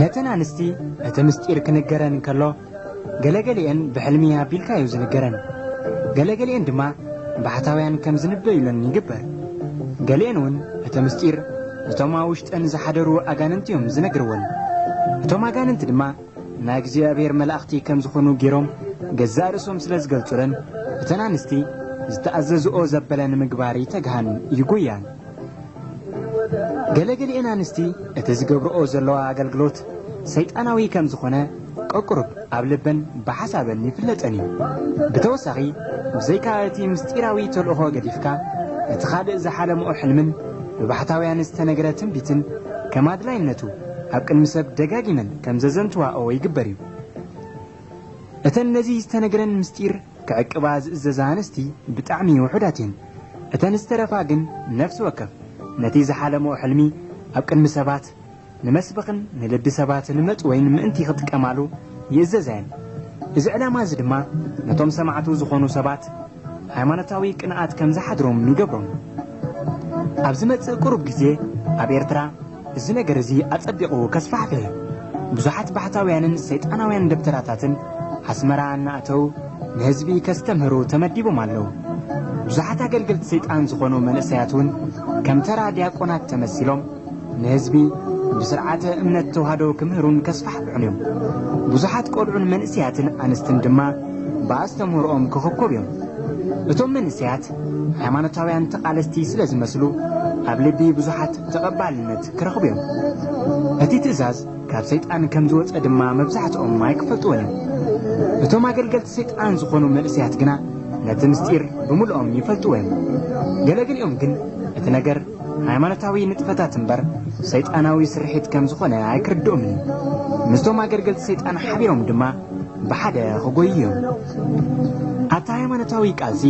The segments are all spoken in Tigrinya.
ነተን ኣንስቲ እቲ ምስጢር ክንገረን እንከሎ ገለገሊኤን ብሕልሚ ኣቢልካ እዩ ዝንገረን ገለገሊኤን ድማ ባሕታውያን ከም ዝንበዩለን ይግበር ገሊኤን እውን እቲ ምስጢር እቶም ኣብ ውሽጠን ዝሓደሩ ኣጋንንቲ እዮም ዝነግርወን እቶም ኣጋንንቲ ድማ ናይ እግዚኣብሔር መላእኽቲ ከም ዝኾኑ ገይሮም ገዛእ ርእሶም ስለ ዝገልጹለን፣ እተን ኣንስቲ ዝተኣዘዝኦ ዘበለ ንምግባር ይተግሃን ይጎያን። ገለ ገሊኤን ኣንስቲ እቲ ዝገብርኦ ዘለዋ ኣገልግሎት ሰይጣናዊ ከም ዝኾነ ቀቁሩብ ኣብ ልበን ብሓሳበን ይፍለጠን እዩ። ብተወሳኺ ብዘይካ እቲ ምስጢራዊ ተልእኾ ገዲፍካ እቲ ካልእ ዝሓለምኦ ሕልምን ብባሕታውያን ዝተነግረ ትንቢትን ከም ኣድላይነቱ ኣብ ቅድሚ ሰብ ደጋጊመን ከም ዘዘንትዋኦ ይግበር እዩ። እተን ነዚ ዝተነግረን ምስጢር ክዕቅባ ዝእዘዛ ኣንስቲ ብጣዕሚ ውሑዳት እየን። እተን ዝተረፋ ግን ነፍሲ ወከፍ ነቲ ዝሓለመኦ ሕልሚ ኣብ ቅድሚ ሰባት ንመስበኽን ንልቢ ሰባት ንመጭወይን ምእንቲ ክጥቀማሉ ይእዘዛ እየን። እዚ ዕላማ እዚ ድማ ነቶም ሰማዕቱ ዝኾኑ ሰባት ሃይማኖታዊ ቅንኣት ከም ዝሓድሮም ንገብሮም። ኣብ ዝመጽእ ቅሩብ ግዜ ኣብ ኤርትራ እዚ ነገር እዚ ኣጸቢቑ ከስፋሕፍሕ እዩ። ብዙሓት ባሕታውያንን ሰይጣናውያን ደብተራታትን ኣስመራ እናእተው ንህዝቢ ከስተምህሩ ተመዲቦም ኣለው። ብዙሓት ኣገልገልቲ ሰይጣን ዝኾኑ መንእሰያት እውን ከም ተራ ድያቆናት ተመሲሎም ንህዝቢ ብስርዓተ እምነት ተዋህዶ ክምህሩን ከስፋሕፍሑን እዮም። ብዙሓት ቆልዑን መንእሰያትን ኣንስትን ድማ ብኣስተምህሮኦም ክኽኮብ እዮም። እቶም መንእሰያት ሃይማኖታውያን ተቓለስቲ ስለ ዝመስሉ ኣብ ልቢ ብዙሓት ተቐባልነት ክረኽቡ እዮም። እቲ ትእዛዝ ካብ ሰይጣን ከም ዝወጸ ድማ መብዛሕትኦም ኣይክፈልጥዎን እዮም። እቶም ኣገልገልቲ ሰይጣን ዝኾኑ መንእሰያት ግና ነቲ ምስጢር ብምልኦም ይፈልጥዎ እዮም። ገለ ገሊኦም ግን እቲ ነገር ሃይማኖታዊ ንጥፈታት እምበር ሰይጣናዊ ስርሒት ከም ዝኾነ ኣይክርድኦምን እዩ። ምስቶም ኣገልገልቲ ሰይጣን ሓቢሮም ድማ ብሓደ ክጎዩ እዮም። ኣብቲ ሃይማኖታዊ ቃልሲ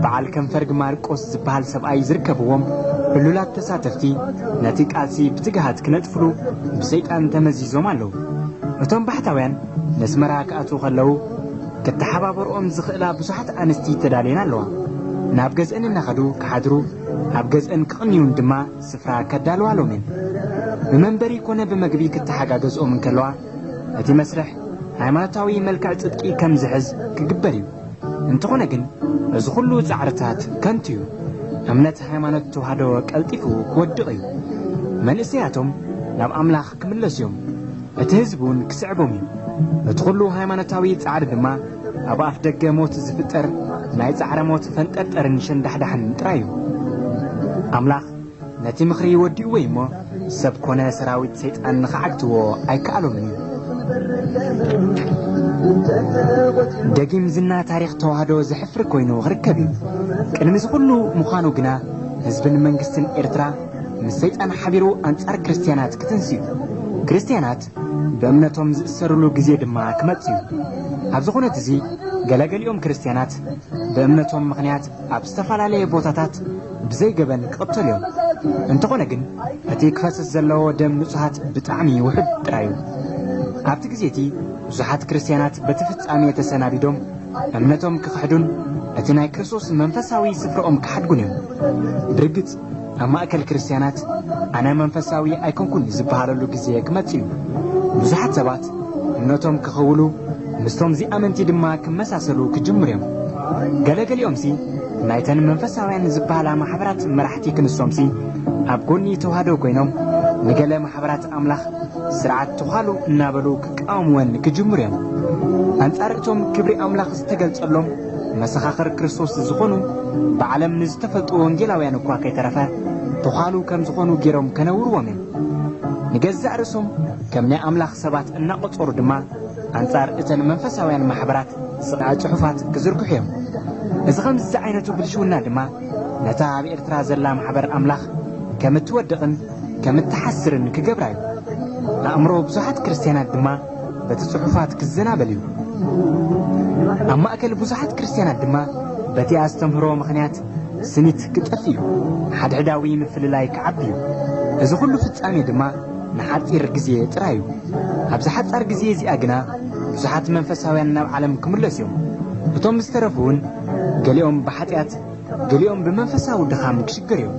በዓል ከንፈርግ ማርቆስ ዝበሃል ሰብኣይ ዝርከብዎም ዕሉላት ተሳተፍቲ ነቲ ቃልሲ ብትግሃት ክነጥፍሉ ብሰይጣን ተመዚዞም ኣለዉ። እቶም ባሕታውያን ነስመራ ክኣትዉ ከለዉ ክተሓባበርኦም ዝኽእላ ብዙሓት ኣንስቲ ተዳልየን ኣለዋ። ናብ ገዝእን እናኸዱ ክሓድሩ ኣብ ገዝእን ክቕንዩን ድማ ስፍራ ከዳልዋሎም እየን። ብመንበሪ ኮነ ብመግቢ ክተሓጋገዝኦም እንከለዋ፣ እቲ መስርሕ ሃይማኖታዊ መልክዕ ጽድቂ ከም ዝሕዝ ክግበር እዩ። እንተኾነ ግን እዚ ኩሉ ጻዕርታት ከንቱ እዩ። እምነት ሃይማኖት ተዋህዶ ቀልጢፉ ክወድቕ እዩ። መንእሰያቶም ናብ ኣምላኽ ክምለሱ እዮም፣ እቲ ህዝቢ እውን ክስዕቦም እዩ። በቲ ኹሉ ሃይማኖታዊ ጻዕሪ ድማ ኣብ ኣፍ ደገ ሞት ዝፍጠር ናይ ጻዕረ ሞት ፈንጠርጠርን ሸንዳሕዳሕን ጥራይ እዩ። ኣምላኽ ነቲ ምኽሪ ወዲእዎ እዩ እሞ ሰብ ኮነ ሰራዊት ሰይጣን ንኽዓግትዎ ኣይከኣሎምን እዩ። ደጊም ዝና ታሪኽ ተዋህዶ ዘሕፍር ኮይኑ ክርከብ እዩ። ቅድሚ እዚ ኹሉ ምዃኑ ግና ህዝብን መንግስትን ኤርትራ ምስ ሰይጣን ሓቢሩ ኣንጻር ክርስትያናት ክትንስዩ፣ ክርስትያናት ብእምነቶም ዝእሰርሉ ግዜ ድማ ክመጽእ እዩ። ኣብዚ ኩነት እዚ ገለገሊኦም ክርስትያናት ብእምነቶም ምኽንያት ኣብ ዝተፈላለየ ቦታታት ብዘይ ገበን ክቕተሉ እዮም። እንተኾነ ግን እቲ ክፈስስ ዘለዎ ደም ንጹሃት ብጣዕሚ ውሑድ ጥራይ እዩ። ኣብቲ ግዜ እቲ ብዙሓት ክርስትያናት በቲ ፍጻሜ ተሰናቢዶም እምነቶም ክኽሕዱን እቲ ናይ ክርስቶስ መንፈሳዊ ስፍራኦም ክሓድጉን እዮም። ብርግጽ ኣብ ማእከል ክርስትያናት ኣነ መንፈሳዊ ኣይኮንኩን ዝበሃለሉ ግዜ ክመጽእ እዩ። ብዙሓት ሰባት እምነቶም ክኽውሉ ምስቶም ዚኣመንቲ ድማ ክመሳሰሉ ክጅምሩ እዮም። ገለ ገሊኦምሲ ናይተን መንፈሳውያን ዝበሃላ ማሕበራት መራሕቲ ክንሶምሲ ኣብ ጎኒ ተዋህዶ ኮይኖም ንገለ ማሕበራት ኣምላኽ ስርዓት ተዃሉ እናበሉ ክቃወምወን ክጅምሩ እዮም። ኣንጻር እቶም ክብሪ ኣምላኽ ዝተገልጸሎም መሰኻኽር ክርስቶስ ዝኾኑ ብዓለም ንዝተፈልጡ ወንጌላውያን እኳ ከይተረፈ ተዃሉ ከም ዝኾኑ ገይሮም ከነውርዎም እዮም። ንገዛእ ርእሶም ከም ናይ ኣምላኽ ሰባት እናቖጸሩ ድማ ኣንጻር እተን መንፈሳውያን ማሕበራት ስቓ ጽሑፋት ክዝርግሑ እዮም። እዚ ከምዚ ዝዓይነቱ ብልሽውና ድማ ነታ ኣብ ኤርትራ ዘላ ማሕበር ኣምላኽ ከም እትወድቕን ከም እትሓስርን ክገብራ እዩ። ኣእምሮ ብዙሓት ክርስትያናት ድማ በቲ ጽሑፋት ክዘናበል እዩ። ኣብ ማእከል ብዙሓት ክርስትያናት ድማ በቲ ኣስተምህሮ ምኽንያት ስኒት ክጠፍእ እዩ፣ ሓድሕዳዊ ምፍልላይ ክዓቢ እዩ። እዚ ኹሉ ፍጻሜ ድማ ንሓጺር ግዜ ጥራይ እዩ። ኣብዛ ሓጻር ግዜ እዚኣ ግና ብዙሓት መንፈሳውያን ናብ ዓለም ክምለሱ እዮም፣ እቶም ዝተረፉውን ገሊኦም ብሓጢኣት ገሊኦም ብመንፈሳዊ ድኻም ክሽገር እዮም።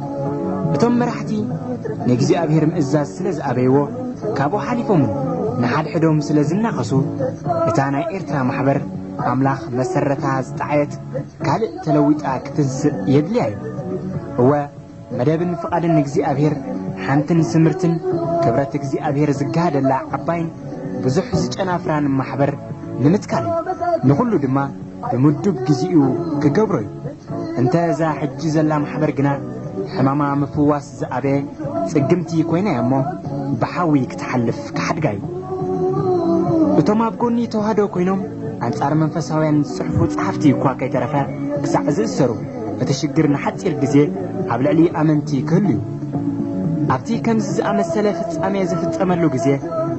እቶም መራሕቲ ንእግዚኣብሔር ምእዛዝ ስለ ዝኣበይዎ ካብኡ ሓሊፎምን ንሓድሕዶም ስለ ዝናኸሱ እታ ናይ ኤርትራ ማሕበር ኣምላኽ መሰረታ ዝጠዓየት ካልእ ተለዊጣ ክትንስእ የድልያ እዩ። እወ መደብን ፍቓድን እግዚኣብሔር ሓንትን ስምርትን ክብረት እግዚኣብሔር ዝጋሃደላ ዓባይን ብዙሕ ዝጨናፍራን ማሕበር ንምትካል እዩ። ንኹሉ ድማ ብምዱብ ግዜኡ ክገብሮ እዩ። እንተ እዛ ሕጂ ዘላ ማሕበር ግና ሕማማ ምፍዋስ ዝኣበየ ጽግምቲ ኮይና እያ እሞ ብሓዊ ክትሓልፍ ክሓድጋ እዩ። እቶም ኣብ ጎኒ ተዋህዶ ኮይኖም ኣንጻር መንፈሳውያን ዝጽሕፉ ጸሓፍቲ እኳ ከይተረፈ ክሳዕ ዝእሰሩ እቲ ሽግር ንሓጺር ግዜ ኣብ ልዕሊ ኣመንቲ ክህሉ እዩ። ኣብቲ ከምዚ ዝኣመሰለ ፍጻሜ ዝፍጸመሉ ግዜ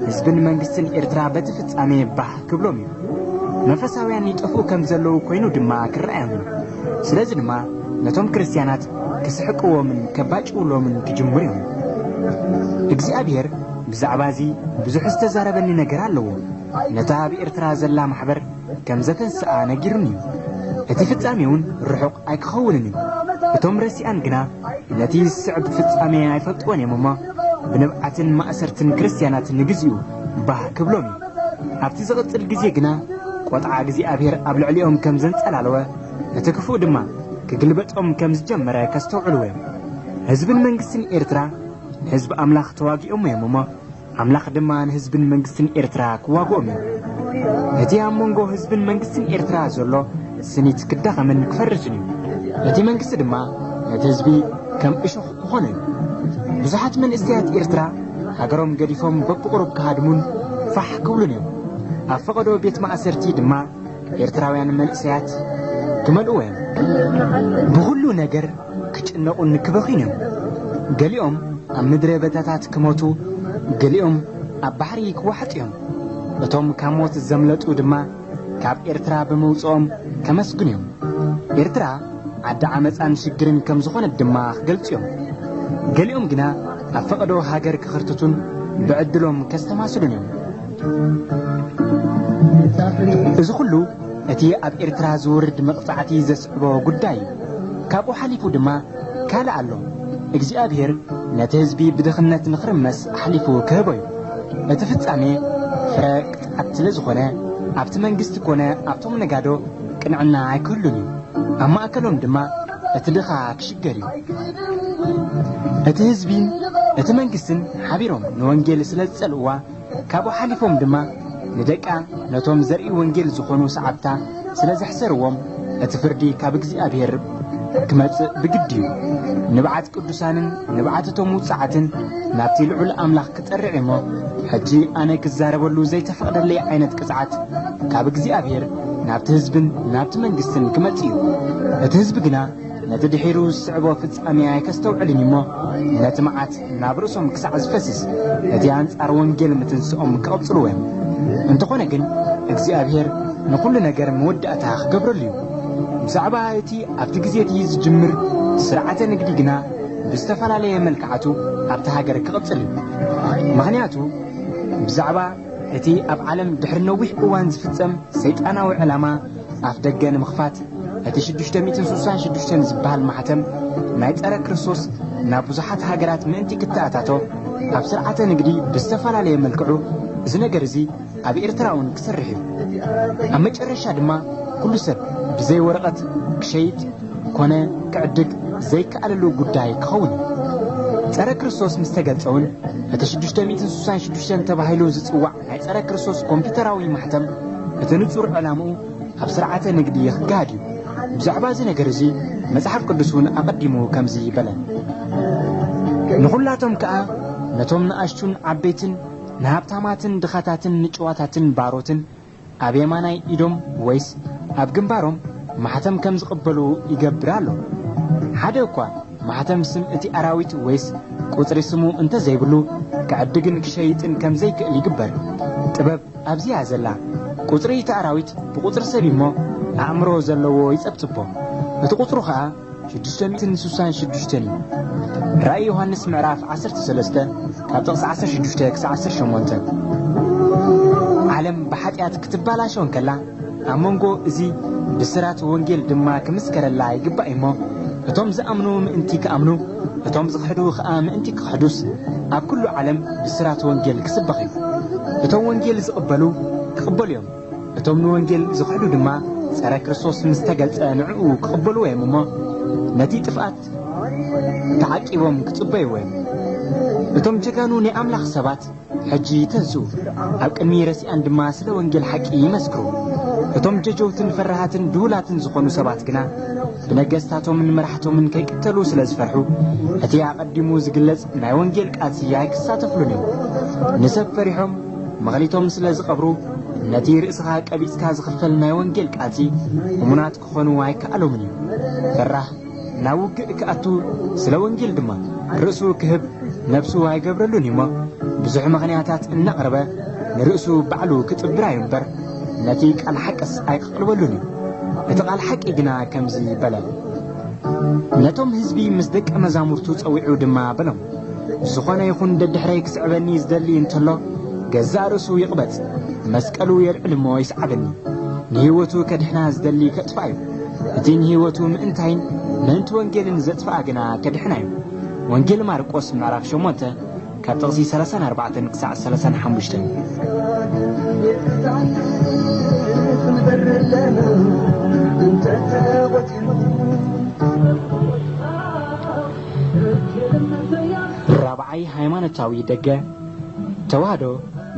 ህዝብን መንግስትን ኤርትራ በቲ ፍጻሜ ባህ ክብሎም እዩ። መንፈሳውያን ይጠፍኡ ከም ዘለዉ ኮይኑ ድማ ክረኣዮም እዩ። ስለዚ ድማ ነቶም ክርስትያናት ክስሕቅዎምን ከባጭውሎምን ክጅምሩ እዮም። እግዚኣብሔር ብዛዕባ እዚ ብዙሕ ዝተዛረበኒ ነገር ኣለዎ። ነታ ኣብ ኤርትራ ዘላ ማሕበር ከም ዘተንስኣ ነጊሩኒ እዩ። እቲ ፍጻሜውን ርሑቕ ኣይክኸውንን እዩ። እቶም ረሲኣን ግና ነቲ ዝስዕብ ፍጻሜ ኣይፈልጥዎን እዮም እሞ፣ ብንብዓትን ማእሰርትን ክርስትያናት ንግዜኡ ባህ ክብሎም እዩ። ኣብቲ ዝቕጽል ግዜ ግና ቈጥዓ እግዚኣብሔር ኣብ ልዕሊኦም ከም ዘንጸላለወ፣ እቲ ክፉእ ድማ ክግልበጦም ከም ዝጀመረ ከስተውዕልዎ እዮም። ህዝብን መንግስትን ኤርትራ ንህዝቢ ኣምላኽ ተዋጊኦሞ እዮም እሞ፣ ኣምላኽ ድማ ንህዝብን መንግስትን ኤርትራ ክዋግኦም እዩ። እቲ ኣብ መንጎ ህዝብን መንግስትን ኤርትራ ዘሎ ስኒት ክዳኸምን ክፈርስን እዩ። እቲ መንግስቲ ድማ ነቲ ህዝቢ ከም እሾኽ ክኾኖ እዩ። ብዙሓት መንእሰያት ኤርትራ ሃገሮም ገዲፎም በብቑሩብ ክሃድሙን ፋሕ ክብሉን እዮም። ኣብ ፈቐዶ ቤት ማእሰርቲ ድማ ኤርትራውያን መንእሰያት ትመልእዎ እዮም። ብኹሉ ነገር ክጭነቑን ክበኽዩን እዮም። ገሊኦም ኣብ ምድረ በታታት ክሞቱ፣ ገሊኦም ኣብ ባሕሪ ክዋሕጡ እዮም። እቶም ካብ ሞት ዘምለጡ ድማ ካብ ኤርትራ ብምውጽኦም ከመስግኑ እዮም። ኤርትራ ዓዲ ዓመጻን ሽግርን ከም ዝኾነት ድማ ክገልጹ እዮም። ገሊኦም ግና ኣብ ፈቐዶ ሃገር ክኽርትቱን ብዕድሎም ከስተማስሉን እዮም። እዚ ኹሉ እቲ ኣብ ኤርትራ ዝውርድ መቕጻዕቲ ዘስዕቦ ጉዳይ እዩ። ካብኡ ሓሊፉ ድማ ካልእ ኣሎ። እግዚኣብሄር ነቲ ህዝቢ ብድኽነት ንኽርመስ ኣሕሊፉ ክህቦ እዩ። እቲ ፍጻሜ ፍረ ቅጥዓት ስለ ዝኾነ ኣብቲ መንግስቲ ኮነ ኣብቶም ነጋዶ ቅንዕና ኣይክህሉን እዩ። ኣብ ማእከሎም ድማ እቲ ድኻ ክሽገር እዩ። እቲ ህዝቢን እቲ መንግስትን ሓቢሮም ንወንጌል ስለ ዝጸልእዋ ካብኡ ሓሊፎም ድማ ንደቃ ነቶም ዘርኢ ወንጌል ዝኾኑ ሰዓብታ ስለ ዘሕሰርዎም እቲ ፍርዲ ካብ እግዚኣብሔር ክመጽእ ብግዲ እዩ። ንብዓት ቅዱሳንን ንብዓት እቶም ውጽዓትን ናብቲ ልዑል ኣምላኽ ክጠርዕ እሞ ሕጂ ኣነ ክዛረበሉ ዘይተፈቕደለይ ዓይነት ቅጽዓት ካብ እግዚኣብሔር ናብቲ ህዝብን ናብቲ መንግስትን ክመጽእ እዩ። እቲ ህዝቢ ግና ነቲ ድሒሩ ዝስዕቦ ፍጻሜ ኣይከስተውዕልን እዩ እሞ፣ ነቲ መዓት ናብ ርእሶም ክሳዕ ዝፈስስ፣ እቲ ኣንጻር ወንጌል ምትንስኦም ክቕጽልዎ እዮም። እንተኾነ ግን እግዚኣብሄር ንኹሉ ነገር መወዳእታ ክገብረሉ እዩ። ብዛዕባ እቲ ኣብቲ ግዜ እቲ ዝጅምር ስርዓተ ንግዲ ግና ብዝተፈላለየ መልክዓቱ ኣብቲ ሃገር ክቕጽል እዩ። ምኽንያቱ ብዛዕባ እቲ ኣብ ዓለም ድሕሪ ነዊሕ እዋን ዝፍጸም ሰይጣናዊ ዕላማ ኣፍደገ ንምኽፋት እቲ ሽዱሽተ ሚእትን ስሳን ሽዱሽተን ዝበሃል ማሕተም ናይ ጸረ ክርስቶስ ናብ ብዙሓት ሃገራት ምእንቲ ክተኣታቶ ኣብ ስርዓተ ንግዲ ብዝተፈላለየ መልክዑ እዚ ነገር እዚ ኣብ ኤርትራ እውን ክሰርሕ እዩ ኣብ መጨረሻ ድማ ኩሉ ሰብ ብዘይ ወረቐት ክሸይጥ ኮነ ክዕድግ ዘይከኣለሉ ጉዳይ ክኸውን እዩ ጸረ ክርስቶስ ምስ ተገልጸ እውን እቲ ሽዱሽተ ሚእትን ስሳን ሽዱሽተን ተባሂሉ ዝጽዋዕ ናይ ጸረ ክርስቶስ ኮምፒተራዊ ማሕተም እቲ ንጹር ዕላምኡ ኣብ ስርዓተ ንግዲ ክጋሃድ እዩ። ብዛዕባ እዚ ነገር እዚ መጽሓፍ ቅዱስ እውን ኣቐዲሙ ከምዚ በለ። ንኹላቶም ከኣ ነቶም ንኣሽቱን ዓበይትን ንሃብታማትን ድኻታትን ንጭዋታትን ባሮትን ኣብ የማናይ ኢዶም ወይስ ኣብ ግንባሮም ማሕተም ከም ዝቕበሉ ይገብር ኣሎ። ሓደ እኳ ማሕተም ስም እቲ ኣራዊት ወይስ ቁጽሪ ስሙ እንተ ዘይብሉ፣ ክዕድግን ክሸይጥን ከም ዘይክእል ይግበር። ጥበብ ኣብዚ እያ ዘላ። ቁጽሪ እቲ ኣራዊት ብቁጽሪ ሰብ እዩ'ሞ፣ ኣእምሮ ዘለዎ ይጸብጽቦ። እቲ ቁጽሩ ከኣ ሽዱሽተን ስሳን ሽዱሽተን እዩ ራእይ ዮሃንስ ምዕራፍ ዓሰርተ ሰለስተ ካብ ጥቕሲ ዓሰርተ ሽዱሽተ ክሳብ ዓሰርተ ሸሞንተ ዓለም ብሓጢኣት ክትባላሸው እንከላ ኣብ መንጎ እዚ ብስራት ወንጌል ድማ ክምስከረላ ይግባእ እሞ እቶም ዝኣምኑ ምእንቲ ክኣምኑ እቶም ዝኽሕዱ ኸኣ ምእንቲ ክኽሕዱስ ኣብ ኩሉ ዓለም ብስራት ወንጌል ክስበኽ እዩ እቶም ወንጌል ዝቕበሉ ክቕበሉ እዮም እቶም ንወንጌል ዝኽሕዱ ድማ ጸረ ክርስቶስ ምስ ተገልጸ ንዕኡ ክቕበልዎ እዮም እሞ ነቲ ጥፍኣት ተዓቂቦም ክጽበይዎ እዮም። እቶም ጀጋኑ ናይ ኣምላኽ ሰባት ሕጂ ይተንስኡ፣ ኣብ ቅድሚ ረሲኣን ድማ ስለ ወንጌል ሓቂ ይመስክሩ። እቶም ጀጀውትን ፈራሃትን ድሁላትን ዝኾኑ ሰባት ግና ብነገስታቶምን መራሕቶምን ከይቅተሉ ስለ ዝፈርሑ እቲ ኣቐዲሙ ዝግለጽ ናይ ወንጌል ቃልሲ ኣይክሳተፍሉን እዮም። ንሰብ ፈሪሖም መክሊቶም ስለ ዝቀብሩ ነቲ ርእስኻ ቀቢጽካ ዝኽፈል ናይ ወንጌል ቃልሲ እሙናት ክኾኑ ኣይከኣሎምን እዩ። ፈራህ ናብ ውግእ ክኣቱ ስለ ወንጌል ድማ ርእሱ ክህብ ነብሱ ኣይገብረሉን እዩ እሞ ብዙሕ ምኽንያታት እናቕረበ ንርእሱ ባዕሉ ክጥብራ እዩ እምበር ነቲ ቃል ሓቅስ ኣይክቐልበሉን እዩ። እቲ ቃል ሓቂ ግና ከምዚ በለ ነቶም ህዝቢ ምስ ደቀ መዛሙርቱ ጸዊዑ ድማ በሎም ዝኾነ ይኹን ደድሕረይ ክስዕበኒ ዝደሊ እንተሎ ገዛእ ርእሱ ይቕበጽ መስቀሉ የልዕል እሞ ይስዓበኒ ንህይወቱ ከድሕና ዝደሊ ከጥፍኣ እዩ እቲ ንህይወቱ ምእንታይን ምእንቲ ወንጌልን ዘጥፍኣ ግና ከድሕና እዩ ወንጌል ማርቆስ ምዕራፍ 8 ካብ ጥቕሲ 34 ክሳዕ 35 እንተ ተቆጢሩ ራብዓይ ሃይማኖታዊ ደገ ተዋህዶ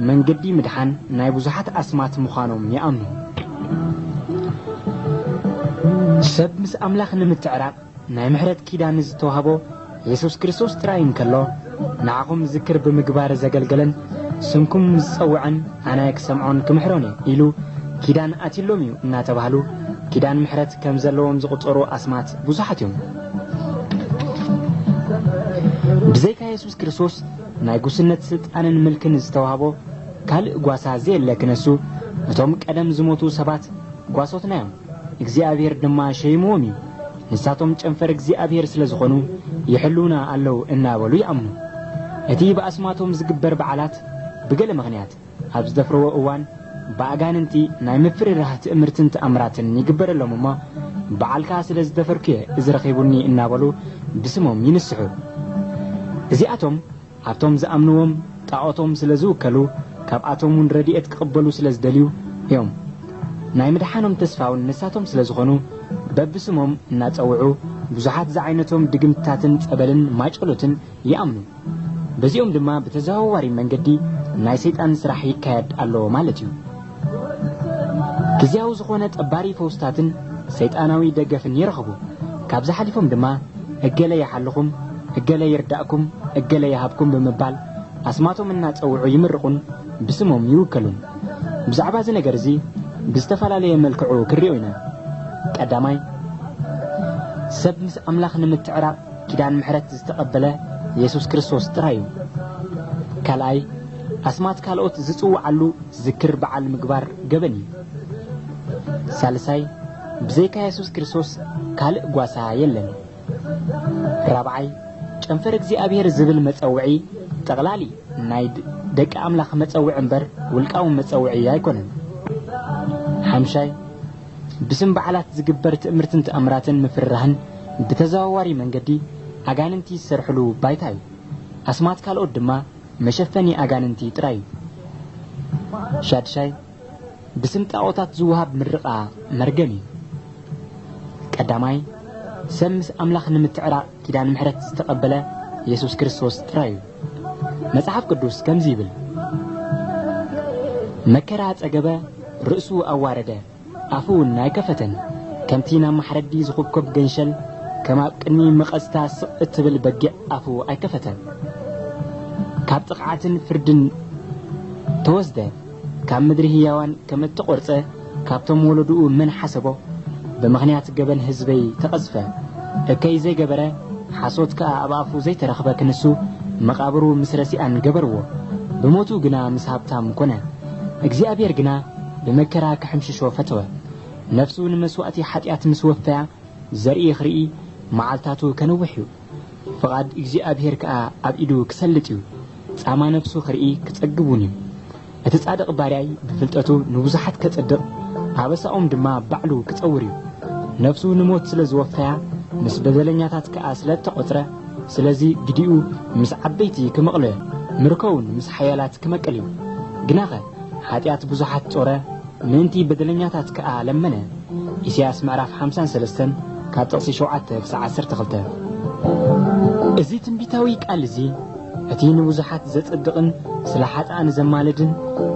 መንገዲ ምድሓን ናይ ብዙሓት ኣስማት ምዃኖም ይኣምኑ። ሰብ ምስ ኣምላኽ ንምትዕራቕ ናይ ምሕረት ኪዳን ዝተዋህቦ የሱስ ክርስቶስ ጥራይ እንከሎ ንዓኹም ዝክር ብምግባር ዘገልገለን ስምኩም ዝጸውዐን ኣነ ክሰምዖን ክምሕሮን እየ ኢሉ ኪዳን ኣትዩሎም እዩ እናተባህሉ ኪዳን ምሕረት ከም ዘለዎም ዝቑጸሩ ኣስማት ብዙሓት እዮም። ብዘይካ የሱስ ክርስቶስ ናይ ጉስነት ስልጣንን ምልክን ዝተዋህቦ ካልእ ጓሳ ዘየለ ክነሱ እቶም ቀደም ዝሞቱ ሰባት ጓሶትና እዮም እግዚኣብሔር ድማ ሸይምዎም እዩ ንሳቶም ጨንፈር እግዚኣብሔር ስለ ዝኾኑ ይሕልውና ኣለው እናበሉ ይኣምኑ እቲ ብኣስማቶም ዝግበር በዓላት ብገለ ምኽንያት ኣብ ዝደፍርዎ እዋን ብኣጋንንቲ ናይ ምፍርራህ ትእምርትን ተኣምራትን ይግበረሎም እሞ በዓልካ ስለ ዝደፈርኩ'የ እዚ ረኺቡኒ እናበሉ ብስሞም ይንስሑ። እዚኣቶም ኣብቶም ዝኣምንዎም ጣኦቶም ስለ ዝውከሉ ካብኣቶም'ውን ረድኤት ክቕበሉ ስለ ዝደልዩ እዮም። ናይ ምድሓኖም ተስፋ'ውን ንሳቶም ስለ ዝኾኑ በብስሞም እናጸውዑ ብዙሓት ዝዓይነቶም ድግምትታትን ጸበልን ማጨሎትን ይኣምኑ። በዚኦም ድማ ብተዘዋዋሪ መንገዲ ናይ ሰይጣን ስራሕ ይካየድ ኣሎ ማለት እዩ። ግዝያዊ ዝኾነ ጠባሪ ፈውስታትን ሰይጣናዊ ደገፍን ይረኽቡ። ካብዚ ሓሊፎም ድማ እገለ ይሓልኹም፣ እገለ ይርዳእኩም፣ እገለ ይሃብኩም ብምባል ኣስማቶም እናጸውዑ ይምርቑን ብስሞም ይውከሉን። ብዛዕባ እዚ ነገር እዚ ብዝተፈላለየ መልክዑ ክንሪኦ ኢና። ቀዳማይ፣ ሰብ ምስ ኣምላኽ ንምትዕራቕ፣ ኪዳን ምሕረት ዝተቐበለ የሱስ ክርስቶስ ጥራይ እዩ። ካልኣይ፣ ኣስማት ካልኦት ዝጽውዓሉ ዝክር በዓል ምግባር ገበን እዩ። ሳልሳይ፣ ብዘይካ የሱስ ክርስቶስ ካልእ ጓሳ የለን። ራብዓይ፣ ጨንፈር እግዚኣብሄር ዝብል መጸውዒ ጠቕላሊ ናይ ደቂ ኣምላኽ መጸውዒ እምበር ውልቃዊ መጸውዒ ኣይኮነን። ሓምሻይ፣ ብስም በዓላት ዝግበር ትእምርትን ተኣምራትን ምፍርራህን ብተዘዋዋሪ መንገዲ ኣጋንንቲ ዝሰርሕሉ ባይታ እዩ። ኣስማት ካልኦት ድማ መሸፈኒ ኣጋንንቲ ጥራይ እዩ። ሻድሻይ፣ ብስም ጣኦታት ዝወሃብ ምርቓ መርገም እዩ። ቀዳማይ፣ ሰብ ምስ ኣምላኽ ንምትዕራቕ ኪዳን ምሕረት ዝተቐበለ የሱስ ክርስቶስ ጥራይ እዩ። መጽሓፍ ቅዱስ ከምዚ ይብል፣ መከራ ጸገበ፣ ርእሱ ኣዋረደ፣ ኣፉ እውን ኣይከፈተን፣ ከምቲ ናብ ማሕረዲ ዝኹብኮብ ገንሸል፣ ከም ኣብ ቅድሚ መቐዝታ ስቕ እትብል በጊዕ ኣፉ ኣይከፈተን። ካብ ጥቕዓትን ፍርድን ተወስደ። ካብ ምድሪ ህያዋን ከመተቆርጸ ካብቶም ወለዱኡ መን ሓሰቦ ብምኽንያት ገበን ህዝበይ ተቀዝፈ እከይ ዘይገበረ ሓሶት ከኣ ኣብ ኣፉ ዘይተረኽበ ክንሱ መቃብሩ ምስ ረሲኣን ገበርዎ ብሞቱ ግና ምስ ሃብታም ኮነ እግዚኣብሔር ግና ብመከራ ክሕምሽሾ ፈተወ ነፍሱ ንመስዋእቲ ሓጢኣት ምስ ወፈያ ዘርኢ ክርኢ መዓልታቱ ከነውሕ እዩ። ፍቓድ እግዚኣብሄር ከኣ ኣብ ኢዱ ኪሰልጥ እዩ፣ ጻማ ነፍሱ ኺርኢ ኪጸግብ እውን እዩ። እቲ ጻድቕ ባርያይ ብፍልጠቱ ንብዙሓት ኬጽድቕ፣ ኣበሳኦም ድማ ባዕሉ ኪጸውር እዩ። ነፍሱ ንሞት ስለ ዝወፈያ፣ ምስ በደለኛታት ከኣ ስለ እተቖጽረ፣ ስለዚ ግዲኡ ምስ ዓበይቲ ኪምቕል፣ ምርኮኡውን ምስ ሓያላት ኪመቅል እዩ። ግናኸ። ሓጢኣት ብዙሓት ጾረ፣ ምእንቲ በደለኛታት ከኣ ለመነ። ኢሳይያስ ምዕራፍ ሓምሳን ሰለስተን ካብ ጥቕሲ ሸውዓተ ክሳዕ ዓሰርተ ክልተ። እዚ ትንቢታዊ ቃል እዚ፣ እቲ ንብዙሓት ዘጽድቕን ስለ ሓጥኣን ዘማልድን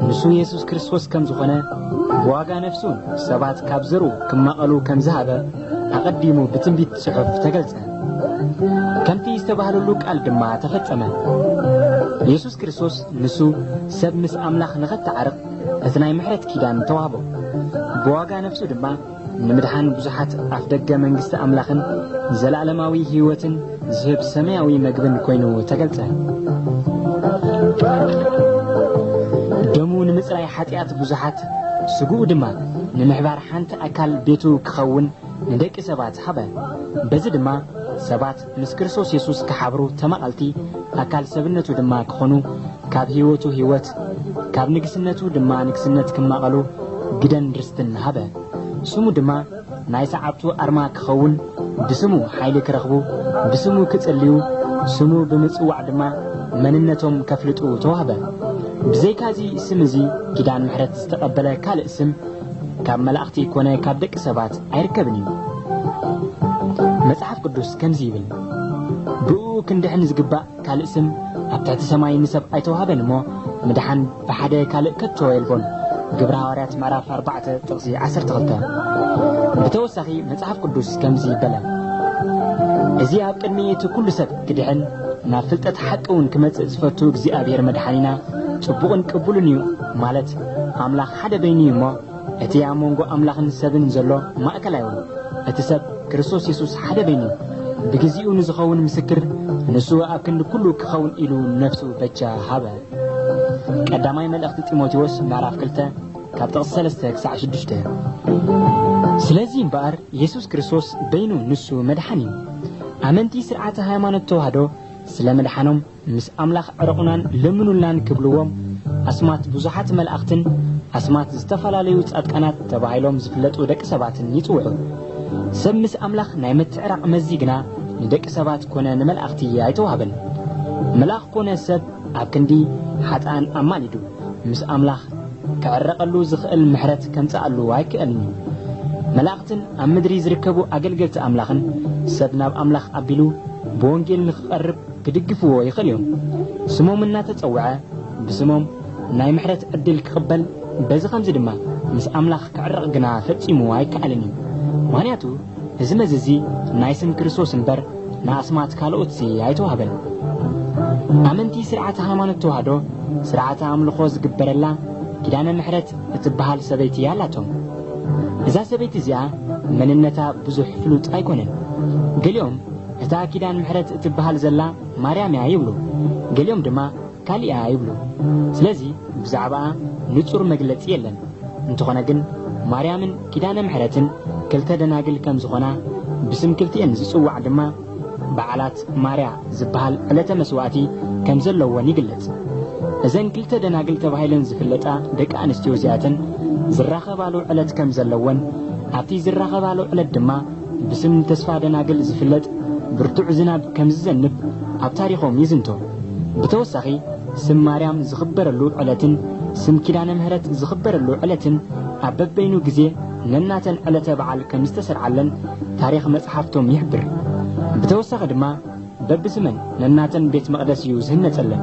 ንሱ የሱስ ክርስቶስ ከም ዝዀነ፣ ብዋጋ ነፍሱ ሰባት ካብ ዘርኡ ክማቐሉ ከም ዝሃበ ኣቐዲሙ ብትንቢት ጽሑፍ ተገልጸ። ከምቲ ዝተባህለሉ ቃል ድማ ተፈጸመ። የሱስ ክርስቶስ ንሱ ሰብ ምስ ኣምላኽ ንኸተዓርቕ እቲ ናይ ምሕረት ኪዳን ተዋህቦ። ብዋጋ ነፍሱ ድማ ንምድሓን ብዙሓት ኣፍደገ መንግስቲ ኣምላኽን ዘለኣለማዊ ህይወትን ዝህብ ሰማያዊ መግብን ኮይኑ ተገልጸ። ደሙ ንምጽራይ ሓጢኣት ብዙሓት ስግኡ ድማ ንምሕባር ሓንቲ ኣካል ቤቱ ክኸውን ንደቂ ሰባት ሃበ። በዚ ድማ ሰባት ምስ ክርስቶስ የሱስ ክሓብሩ ተማቐልቲ ኣካል ሰብነቱ ድማ ክኾኑ ካብ ህይወቱ ህይወት ካብ ንግስነቱ ድማ ንግስነት ክማቐሉ ግደን ርስትን ሃበ። ስሙ ድማ ናይ ሰዓብቱ ኣርማ ክኸውን ብስሙ ሓይሊ ክረኽቡ ብስሙ ክጽልዩ ስሙ ብምጽዋዕ ድማ መንነቶም ከፍልጡ ተዋህበ። ብዘይካዚ ስም እዚ ኪዳን ምሕረት ዝተቐበለ ካልእ ስም ካብ መላእኽቲ ኮነ ካብ ደቂ ሰባት ኣይርከብን እዩ። መጽሓፍ ቅዱስ ከምዚ ይብል፣ ብእኡ ክንድሕን ዝግባእ ካልእ ስም ኣብ ትሕቲ ሰማይ ንሰብ ኣይተዋህበን እሞ ምድሓን ብሓደ ካልእ ከቶ የልቦን ግብረ ሃዋርያት ምዕራፍ 4 ጥቕሲ 12 ብተወሳኺ መጽሓፍ ቅዱስ ከምዚ ይበለ እዚ ኣብ ቅድሚ እቲ ኩሉ ሰብ ክድሕን ናብ ፍልጠት ሓቂ እውን ክመጽእ ዝፈቱ እግዚኣብሔር መድሓኒና ጽቡቕን ቅቡልን እዩ ማለት ኣምላኽ ሓደ በይኑ እዩ እሞ፣ እቲ ኣብ መንጎ ኣምላኽን ሰብን ዘሎ ማእከል ኣይውን፣ እቲ ሰብ ክርስቶስ የሱስ ሓደ በይኑ እዩ። ብግዜኡ ንዝኸውን ምስክር ንሱ ኣብ ክንዲ ኩሉ ክኸውን ኢሉ ነፍሱ በጃ ሃበ። ቀዳማይ መልእኽቲ ጢሞቴዎስ ምዕራፍ ክልተ ካብ ጥቕሲ ሰለስተ ክሳዕ ሽዱሽተ። ስለዚ እምበኣር የሱስ ክርስቶስ በይኑ ንሱ መድሓን እዩ። ኣመንቲ ስርዓተ ሃይማኖት ተዋህዶ ስለ ምድሓኖም ምስ ኣምላኽ ዕረቑናን ለምኑልናን ክብልዎም ኣስማት ብዙሓት መላእኽትን ኣስማት ዝተፈላለዩ ጻድቃናት ተባሂሎም ዝፍለጡ ደቂ ሰባትን ይጽውዑ። ሰብ ምስ ኣምላኽ ናይ ምትዕራቕ መዚ ግና ንደቂ ሰባት ኮነ ንመላእኽቲ ኣይተዋህበን። መልኣኽ ኮነ ሰብ ኣብ ክንዲ ሓጥኣን ኣማሊዱ ምስ ኣምላኽ ክዕረቐሉ ዝኽእል ምሕረት ከምጽኣሉ ኣይክእልን እዩ። መላእኽትን ኣብ ምድሪ ዝርከቡ ኣገልገልቲ ኣምላኽን ሰብ ናብ ኣምላኽ ኣቢሉ ብወንጌል ንኽቐርብ ክድግፍዎ ይኽእል እዮም። ስሞም እናተጸውዐ ብስሞም ናይ ምሕረት ዕድል ክቕበል በዚ ኸምዚ ድማ ምስ ኣምላኽ ክዕረቕ ግና ፈጺሙ ኣይከኣልን እዩ። ምኽንያቱ እዚ መዚ እዚ ናይ ስም ክርስቶስ እምበር ንኣስማት ካልኦትሲ ኣይተዋህበን። ኣመንቲ ስርዓተ ሃይማኖት ተዋህዶ ስርዓተ ኣምልኾ ዝግበረላ ኪዳነ ምሕረት እትበሃል ሰበይቲ ኣላቶም። እዛ ሰበይቲ እዚኣ መንነታ ብዙሕ ፍሉጥ ኣይኮነን። ገሊኦም እታ ኪዳን ምሕረት እትበሃል ዘላ ማርያም እያ ይብሉ፣ ገሊኦም ድማ ካሊእ እያ ይብሉ። ስለዚ ብዛዕባኣ ንጹር መግለጺ የለን። እንተኾነ ግን ማርያምን ኪዳነ ምሕረትን ክልተ ደናግል ከም ዝኾና ብስም ክልቲኤን ዝጽዋዕ ድማ በዓላት ማርያ ዝበሃል ዕለተ መስዋእቲ ከም ዘለወን ይግለጽ። እዘን ክልተ ደናግል ተባሂለን ዝፍለጣ ደቂ ኣንስትዮ እዚኣተን ዝራኸባሉ ዕለት ከም ዘለወን ኣብቲ ዝራኸባሉ ዕለት ድማ ብስም ተስፋ ደናግል ዝፍለጥ ብርቱዕ ዝናብ ከም ዝዘንብ ኣብ ታሪኾም ይዝንቶ። ብተወሳኺ ስም ማርያም ዝኽበረሉ ዕለትን ስም ኪዳነ ምህረት ዝኽበረሉ ዕለትን ኣብ በበይኑ ግዜ ነናተን ዕለተ በዓል ከም ዝተሰርዓለን ታሪኽ መጽሓፍቶም ይሕብር። ብተወሳኺ ድማ፣ በብስመን ነናተን ቤት መቕደስ እዩ ዚህነጸለን።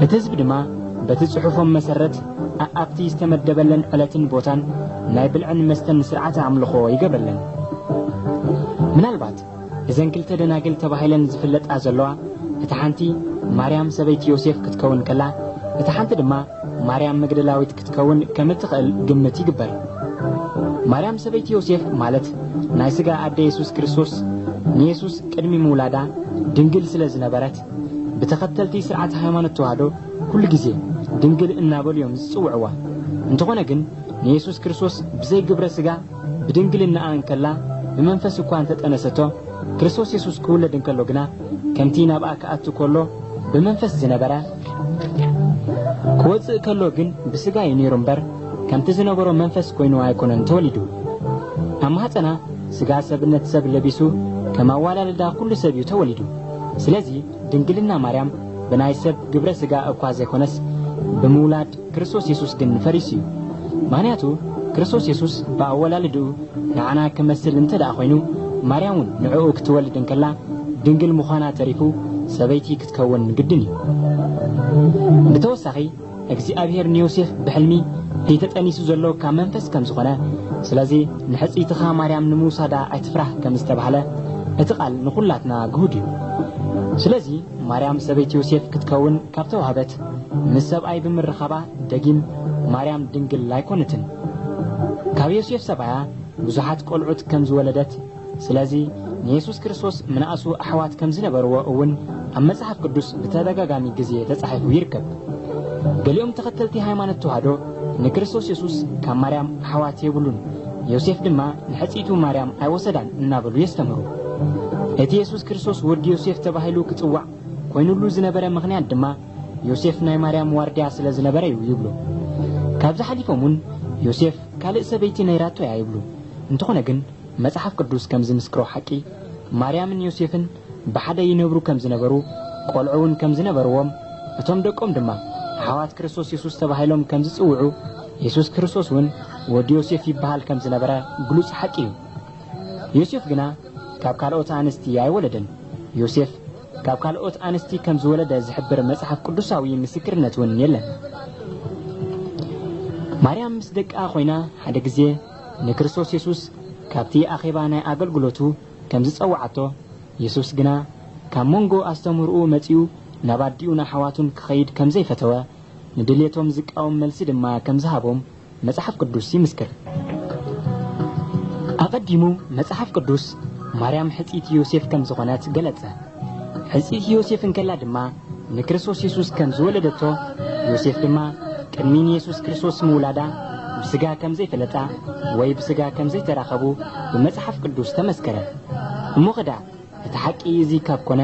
እቲ ህዝቢ ድማ በቲ ጽሑፎም መሰረት ኣኣብቲ ዝተመደበለን ዕለትን ቦታን ናይ ብልዕን መስተን ሥርዓተ ኣምልኾ ይገብረለን። ምናልባት እዘን ክልተ ደናግል ተባሂለን ዚፍለጣ ዘለዋ እታ ሓንቲ ማርያም ሰበይቲ ዮሴፍ ክትከውን ከላ እታ ሓንቲ ድማ ማርያም መግደላዊት ክትከውን ከም እትኽእል ግምት ይግበር። ማርያም ሰበይቲ ዮሴፍ ማለት ናይ ስጋ ኣደ የሱስ ክርስቶስ ንየሱስ ቅድሚ ምውላዳ ድንግል ስለ ዝነበረት ብተኸተልቲ ስርዓት ሃይማኖት ተዋህዶ ኩሉ ግዜ ድንግል እናበሉ እዮም ዝጽውዕዋ። እንተኾነ ግን ንየሱስ ክርስቶስ ብዘይ ግብረ ስጋ ብድንግልናኣ እንከላ ብመንፈስ እኳ እንተጠነሰቶ ክርስቶስ የሱስ ክውለድ እንከሎ ግና ከምቲ ናብኣ ክኣቱ ከሎ ብመንፈስ ዝነበረ ክወጽእ ከሎ ግን ብስጋ እዩ ነይሩ እምበር ከምቲ ዝነበሮ መንፈስ ኮይኑ ኣይኮነን ተወሊዱ ኣብ ማህፀና ስጋ ሰብነት ሰብ ለቢሱ ከም ኣዋላልዳ ኩሉ ሰብ እዩ ተወሊዱ ስለዚ ድንግልና ማርያም ብናይ ሰብ ግብረ ስጋ እኳ ዘይኮነስ ብምውላድ ክርስቶስ የሱስ ግን ፈሪሱ እዩ ምክንያቱ ክርስቶስ የሱስ ብኣወላልድኡ ንዓና ክመስል እንተ ደኣ ኮይኑ ማርያም እውን ንዕኡ ክትወልድ እንከላ ድንግል ምዃና ተሪፉ ሰበይቲ ክከውን ግድን እዩ። ብተወሳኺ እግዚኣብሄር ንዮሴፍ ብሕልሚ እቲ ተጠኒሱ ዘሎ ካብ መንፈስ ከም ዝኾነ ስለዚ ንሕጽይትኻ ማርያም ንምውሳዳ ኣይትፍራህ ከም ዝተባህለ እቲ ቃል ንኹላትና ግሁድ እዩ። ስለዚ ማርያም ሰበይቲ ዮሴፍ ክትከውን ካብ ተዋህበት ምስ ሰብኣይ ብምርኻባ ደጊም ማርያም ድንግል ኣይኮነትን። ካብ ዮሴፍ ሰብኣያ ብዙሓት ቆልዑት ከም ዝወለደት ስለዚ ንየሱስ ክርስቶስ ምንኣሱ ኣሕዋት ከም ዝነበርዎ እውን ኣብ መጽሓፍ ቅዱስ ብተደጋጋሚ ግዜ ተጻሒፉ ይርከብ። ገሊኦም ተኸተልቲ ሃይማኖት ተዋህዶ ንክርስቶስ የሱስ ካብ ማርያም ኣሕዋት የብሉን፣ ዮሴፍ ድማ ንሕጽይቱ ማርያም ኣይወሰዳን እናበሉ የስተምህሩ። እቲ የሱስ ክርስቶስ ወዲ ዮሴፍ ተባሂሉ ክጽዋዕ ኮይኑሉ ዝነበረ ምኽንያት ድማ ዮሴፍ ናይ ማርያም ዋርድያ ስለ ዝነበረ እዩ ይብሉ። ካብዚ ሓሊፎም እውን ዮሴፍ ካልእ ሰበይቲ ነይራቶ እያ ይብሉ። እንተኾነ ግን መጽሓፍ ቅዱስ ከም ዚምስክሮ ሓቂ፣ ማርያምን ዮሴፍን ብሓደ ይነብሩ ከም ዝነበሩ፣ ቈልዑ እውን ከም ዝነበርዎም፣ እቶም ደቆም ድማ ኣሕዋት ክርስቶስ የሱስ ተባሂሎም ከም ዚጽውዑ፣ የሱስ ክርስቶስ እውን ወዲ ዮሴፍ ይብሃል ከም ዝነበረ ግሉጽ ሓቂ እዩ። ዮሴፍ ግና ካብ ካልኦት ኣንስቲ ኣይወለደን። ዮሴፍ ካብ ካልኦት ኣንስቲ ከም ዝወለደ ዚሕብር መጽሓፍ ቅዱሳዊ ምስክርነት እውን የለን። ማርያም ምስ ደቃ ዀይና ሓደ ግዜ፣ ንክርስቶስ የሱስ ካብቲ ኣኼባ ናይ ኣገልግሎቱ ከም ዝጸውዓቶ፣ የሱስ ግና ካብ መንጎ ኣስተምህሮኡ መጺኡ ናብ ኣዲኡን ኣሕዋቱን ክኸይድ ከም ዘይፈተወ፣ ንድልየቶም ዝቃወም መልሲ ድማ ከም ዝሃቦም መጽሓፍ ቅዱስ ይምስክር። ኣቐዲሙ መጽሓፍ ቅዱስ ማርያም ሕጽይቲ ዮሴፍ ከም ዝዀነት ገለጸ። ሕጽይቲ ዮሴፍ እንከላ ድማ ንክርስቶስ የሱስ ከም ዝወለደቶ፣ ዮሴፍ ድማ ቅድሚ ንየሱስ ክርስቶስ ምውላዳ ብስጋ ከም ዘይፈለጣ ወይ ብስጋ ከም ዘይተራኸቡ ብመጽሓፍ ቅዱስ ተመስከረ። እሞ ኸዳዕ እቲ ሓቂ እዚ ካብ ኮነ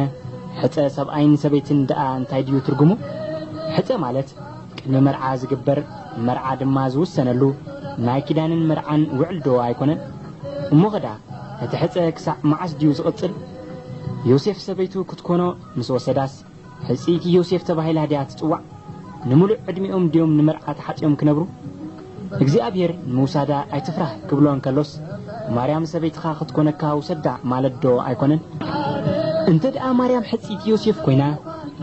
ሕጸ ሰብኣይን ሰበይትን ደኣ እንታይ ድዩ ትርጉሙ? ሕጸ ማለት ቅድሚ መርዓ ዝግበር መርዓ ድማ ዝውሰነሉ ናይ ኪዳንን መርዓን ውዕልዶ ኣይኮነን? እሞ ኸዳዕ እቲ ሕጸ ክሳዕ መዓስ ድዩ ዝቕጽል? ዮሴፍ ሰበይቱ ክትኮኖ ምስ ወሰዳስ ሕጽይቲ ዮሴፍ ተባሂላ ድያ ትጽዋዕ? ንምሉእ ዕድሚኦም ድዮም ንመርዓ ተሓጽዮም ክነብሩ? እግዚኣብሄር ንምውሳዳ ኣይትፍራህ ክብሎ እንከሎስ ማርያም ሰበይትኻ ክትኮነካ ውሰዳ ማለት ዶ ኣይኮነን? እንተድኣ ማርያም ሕጽይቲ ዮሴፍ ኮይና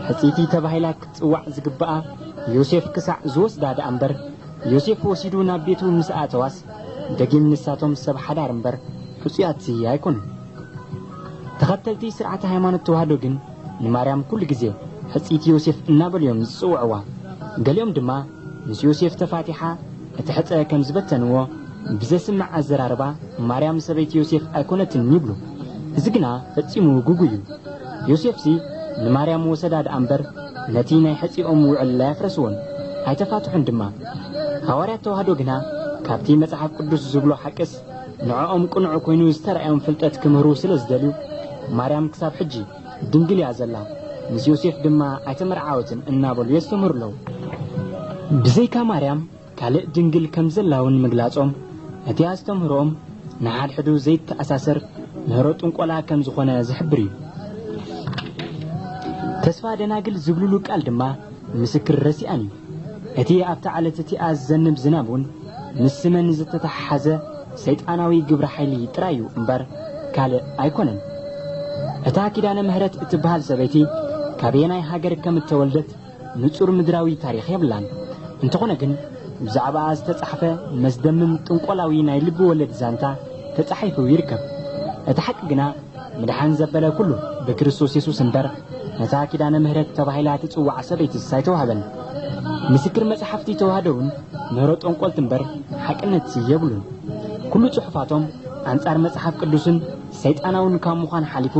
ሕጽይቲ ተባሂላ ክትጽዋዕ ዝግብኣ ዮሴፍ ክሳዕ ዝወስዳ ድኣ እምበር ዮሴፍ ወሲዱ ናብ ቤቱ ምስ ኣእተዋስ ደጊም ንሳቶም ሰብ ሓዳር እምበር ሕጹያት ኣይኮኑን። ተኸተልቲ ስርዓተ ሃይማኖት ተዋህዶ ግን ንማርያም ኩሉ ግዜ ሕጽይቲ ዮሴፍ እናበሉ እዮም ዝጽውዕዋ። ገሊኦም ድማ ምስ ዮሴፍ ተፋቲሓ እቲ ሕጸ ከም ዝበተንዎ ብዘስምዕ ኣዘራርባ ማርያም ሰበይቲ ዮሴፍ ኣይኮነትን ይብሉ። እዚ ግና ፈጺሙ ግጉይ እዩ። ዮሴፍሲ ንማርያም ወሰዳ ደኣ እምበር ነቲ ናይ ሕጺኦም ውዕል ኣየፍረስዎን ኣይተፋትሑን ድማ። ሃዋርያት ተዋህዶ ግና ካብቲ መጽሓፍ ቅዱስ ዝብሎ ሓቅስ ንዕኦም ቅኑዕ ኮይኑ ዝተራእዮም ፍልጠት ክምህሩ ስለ ዝደልዩ፣ ማርያም ክሳብ ሕጂ ድንግል እያ ዘላ፣ ምስ ዮሴፍ ድማ ኣይተመርዓወትን እናበሉ የስተምህሩ ኣለዉ። ብዘይካ ማርያም ካልእ ድንግል ከም ዘላ እውን ምግላጾም፣ እቲ ኣስተምህሮኦም ንሓድሕዱ ዘይተኣሳሰር ምህሮ ጥንቆላ ከም ዝኾነ ዝሕብር እዩ። ተስፋ ደናግል ዝብሉሉ ቃል ድማ ምስክር ረሲኣን እዩ። እቲ ኣብታ ዓለት እቲኣ ዝዘንብ ዝናብ ውን ምስ ስመን ዝተተሓሓዘ ሰይጣናዊ ግብረ ሓይሊ ጥራይ እዩ እምበር ካልእ ኣይኮነን። እታ ኪዳነ ምህረት እትበሃል ሰበይቲ ካበየናይ ሃገር ከም እተወልደት ንጹር ምድራዊ ታሪኽ የብላን። እንተኾነ ግን ብዛዕባኣ ዝተጻሕፈ መስደምም ጥንቆላዊ ናይ ልቢ ወለድ ዛንታ ተጻሒፉ ይርከብ። እቲ ሓቂ ግና። ምድሓን ዘበለ ኩሉ ብክርስቶስ የሱስ እምበር ነታ ኪዳነ ምህረት ተባሂላ እትጽዋዕ ሰበይትስ ኣይተዋህበን። ምስክር መጽሓፍቲ ተዋህዶ ውን ምህሮ ጠንቆልቲ እምበር ሓቅነትሲ የብሉን። ኩሉ ጽሑፋቶም ኣንጻር መጽሓፍ ቅዱስን ሰይጣናውን ካብ ምዃን ሓሊፉ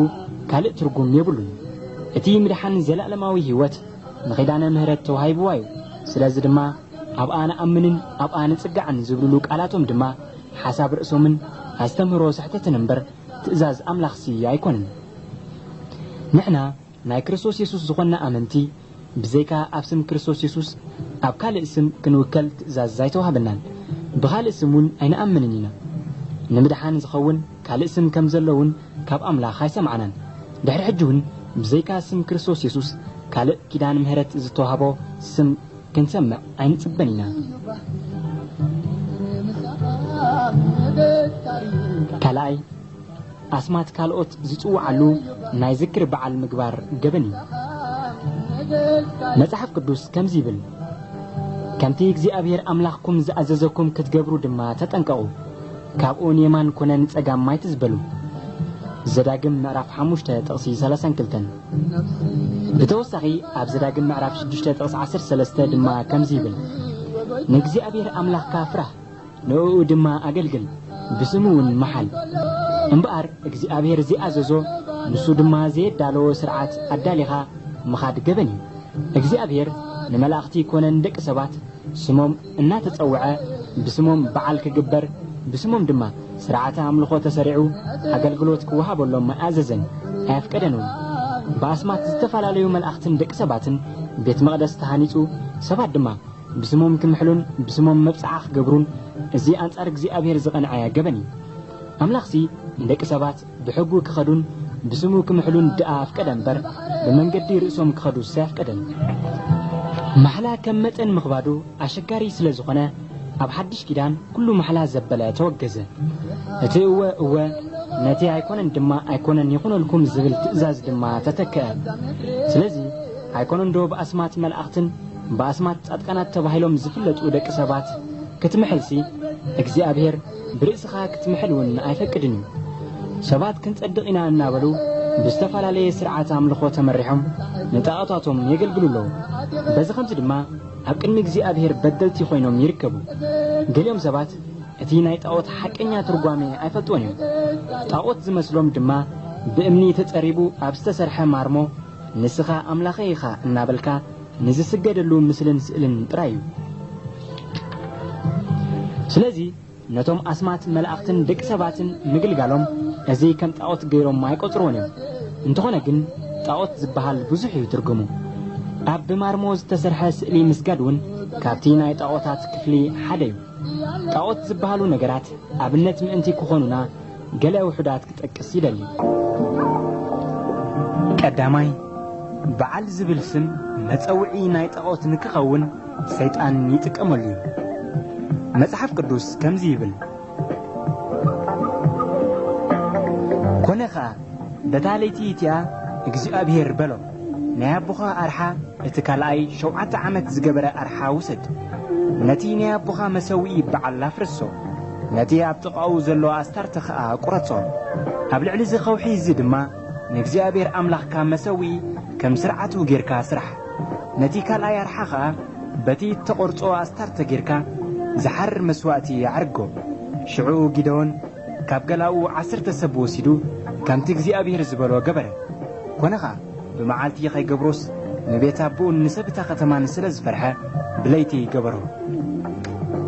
ካልእ ትርጉም የብሉን። እቲ ምድሓን ዘላእለማዊ ህይወት ንኪዳነ ምህረት ተዋሂብዋ እዩ። ስለዚ ድማ ኣብኣ ንኣምንን ኣብኣ ንጽጋዕን ዝብልሉ ቃላቶም ድማ ሓሳብ ርእሶምን ኣስተምህሮ ስሕተትን እምበር ትእዛዝ ኣምላኽሲ ኣይኰነን። ንሕና ናይ ክርስቶስ የሱስ ዝዀንና ኣመንቲ፣ ብዘይካ ኣብ ስም ክርስቶስ የሱስ፣ ኣብ ካልእ ስም ክንውከል ትእዛዝ ኣይተዋህበናን። ብኻልእ ስም እውን ኣይንኣምንን ኢና። ንምድሓን ዚኸውን ካልእ ስም ከም ዘሎ እውን ካብ ኣምላኽ ኣይሰማዕናን። ድሕሪ ሕጂ እውን ብዘይካ ስም ክርስቶስ የሱስ፣ ካልእ ኪዳን ምሕረት ዝተዋህቦ ስም፣ ክንሰምዕ ኣይንጽበን ኢና። ካልኣይ፣ ኣስማት ካልኦት ዝጽውዓሉ ናይ ዝክሪ በዓል ምግባር ገበን እዩ። መጽሓፍ ቅዱስ ከምዚ ይብል፣ ከምቲ እግዚኣብሔር ኣምላኽኩም ዝኣዘዘኩም ክትገብሩ ድማ ተጠንቀቑ፣ ካብኡ ንየማን ኮነ ንጸጋም ኣይትዝበሉ። ዘዳግም ምዕራፍ ሓሙሽተ ጥቕሲ ሰላሳን ክልተን ብተወሳኺ ኣብ ዘዳግም ምዕራፍ ሽዱሽተ ጥቕሲ ዓሰርተ ሰለስተ ድማ ከምዚ ይብል ንእግዚኣብሔር ኣምላኽካ ፍራህ ንእኡ ድማ ኣገልግል ብስሙ እውን መሓል እምበኣር እግዚኣብሔር ዘይኣዘዞ ንሱ ድማ ዘየዳለዎ ስርዓት ኣዳሊኻ ምኻድ ገበን እዩ እግዚኣብሔር ንመላእኽቲ ኮነ ንደቂ ሰባት ስሞም እናተጸውዐ ብስሞም በዓል ክግበር፣ ብስሞም ድማ ሥርዓተ ኣምልኾ ተሠሪዑ ኣገልግሎት ክወሃበሎም ኣይኣዘዘን ኣየፍቀደን እውን። ብኣስማት ዝተፈላለዩ መላእኽትን ደቂ ሰባትን ቤት መቕደስ ተሃኒጹ፣ ሰባት ድማ ብስሞም ክምሕሉን ብስሞም መብጽዓ ክገብሩን እዚ ኣንጻር እግዚኣብሔር ዝቐንዐ ገበን እዩ። ኣምላኽሲ ንደቂ ሰባት። ብሕጉ ክኸዱን ብስሙ ክምሕሉን ድኣ ኣፍቀደ እምበር፣ ብመንገዲ ርእሶም ክኸዱስ ኣየፍቀደን። ማሕላ ከም መጠን ምኽባዱ ኣሸጋሪ ስለ ዝኾነ፣ ኣብ ሓድሽ ኪዳን ኩሉ ማሕላ ዘበለ ተወገዘ። እቲ እወ እወ፣ ነቲ ኣይኮነን ድማ ኣይኮነን ይኹነልኩም ዝብል ትእዛዝ ድማ ተተክኣ። ስለዚ ኣይኮነንዶ ብኣስማት መላእኽትን ብኣስማት ጻድቃናት ተባሂሎም ዝፍለጡ ደቂ ሰባት ክትምሕልሲ እግዚኣብሔር ብርእስኻ ክትምሕል እውን ኣይፈቅድን እዩ። ሰባት ክንጸድቕ ኢና እናበሉ ብዝተፈላለየ ስርዓት ኣምልኾ ተመሪሖም ንጣኦታቶም የገልግሉ ኣለዉ። በዚ ኸምዚ ድማ ኣብ ቅድሚ እግዚኣብሄር በደልቲ ዀይኖም ይርከቡ። ገሊኦም ሰባት እቲ ናይ ጣኦት ሓቀኛ ትርጓሜ ኣይፈልጥዎን እዮም። ጣኦት ዝመስሎም ድማ ብእምኒ ተጸሪቡ ኣብ ዝተሰርሐ ማርሞ ንስኻ ኣምላኸይ ኢኻ እናበልካ ንዝስገደሉ ምስልን ስእልን ጥራይ እዩ። ስለዚ ነቶም ኣስማት መላእኽትን ደቂ ሰባትን ምግልጋሎም እዚ ከም ጣዖት ገይሮም ኣይቆጽርዎን እዮም። እንተኾነ ግን ጣዖት ዝበሃል ብዙሕ እዩ ትርጉሙ። ኣብ ብማርሞ ዝተሰርሐ ስእሊ ምስጋድ እውን ካብቲ ናይ ጣዖታት ክፍሊ ሓደ እዩ። ጣዖት ዝበሃሉ ነገራት ኣብነት ምእንቲ ክኾኑና ገለ ውሑዳት ክጠቅስ ይደሊ። ቀዳማይ፣ በዓል ዝብል ስም መጸውዒ ናይ ጣኦት ንክኸውን ሰይጣን ይጥቀመሉ እዩ። መጽሓፍ ቅዱስ ከምዚ ይብል፣ ኮነ ኸኣ በታ ለይቲ እቲኣ እግዚኣብሄር በሎም። ናይ ኣቦኻ ኣርሓ እቲ ካልኣይ ሸውዓተ ዓመት ዝገበረ ኣርሓ ውሰድ። ነቲ ናይ ኣቦኻ መሰውኢ በዓል ኣፍርሶ። ነቲ ኣብ ጥቓኡ ዘሎ ኣስታርተ ኸኣ ቍረጾ። ኣብ ልዕሊ እዚ ኸውሒ እዚ ድማ ንእግዚኣብሄር ኣምላኽካ መሰውኢ ከም ስርዓቱ ጌርካ ስራሕ። ነቲ ካልኣይ ኣርሓ ኸኣ በቲ እተቖርጾ ኣስታርተ ጌርካ ዝሓርር መስዋእቲ ኣዕርጎ። ሽዑ ጊደዎን፣ ካብ ገላኡ ዓሰርተ ሰብ ወሲዱ ከምቲ እግዚኣብሄር ዝበሎ ገበረ። ኰነ ኸኣ፣ ብመዓልቲ ኸይገብሮስ፣ ንቤት ኣቦኡን ንሰብ እታ ኸተማን ስለ ዝፈርሐ፣ ብለይቲ ገበሮ።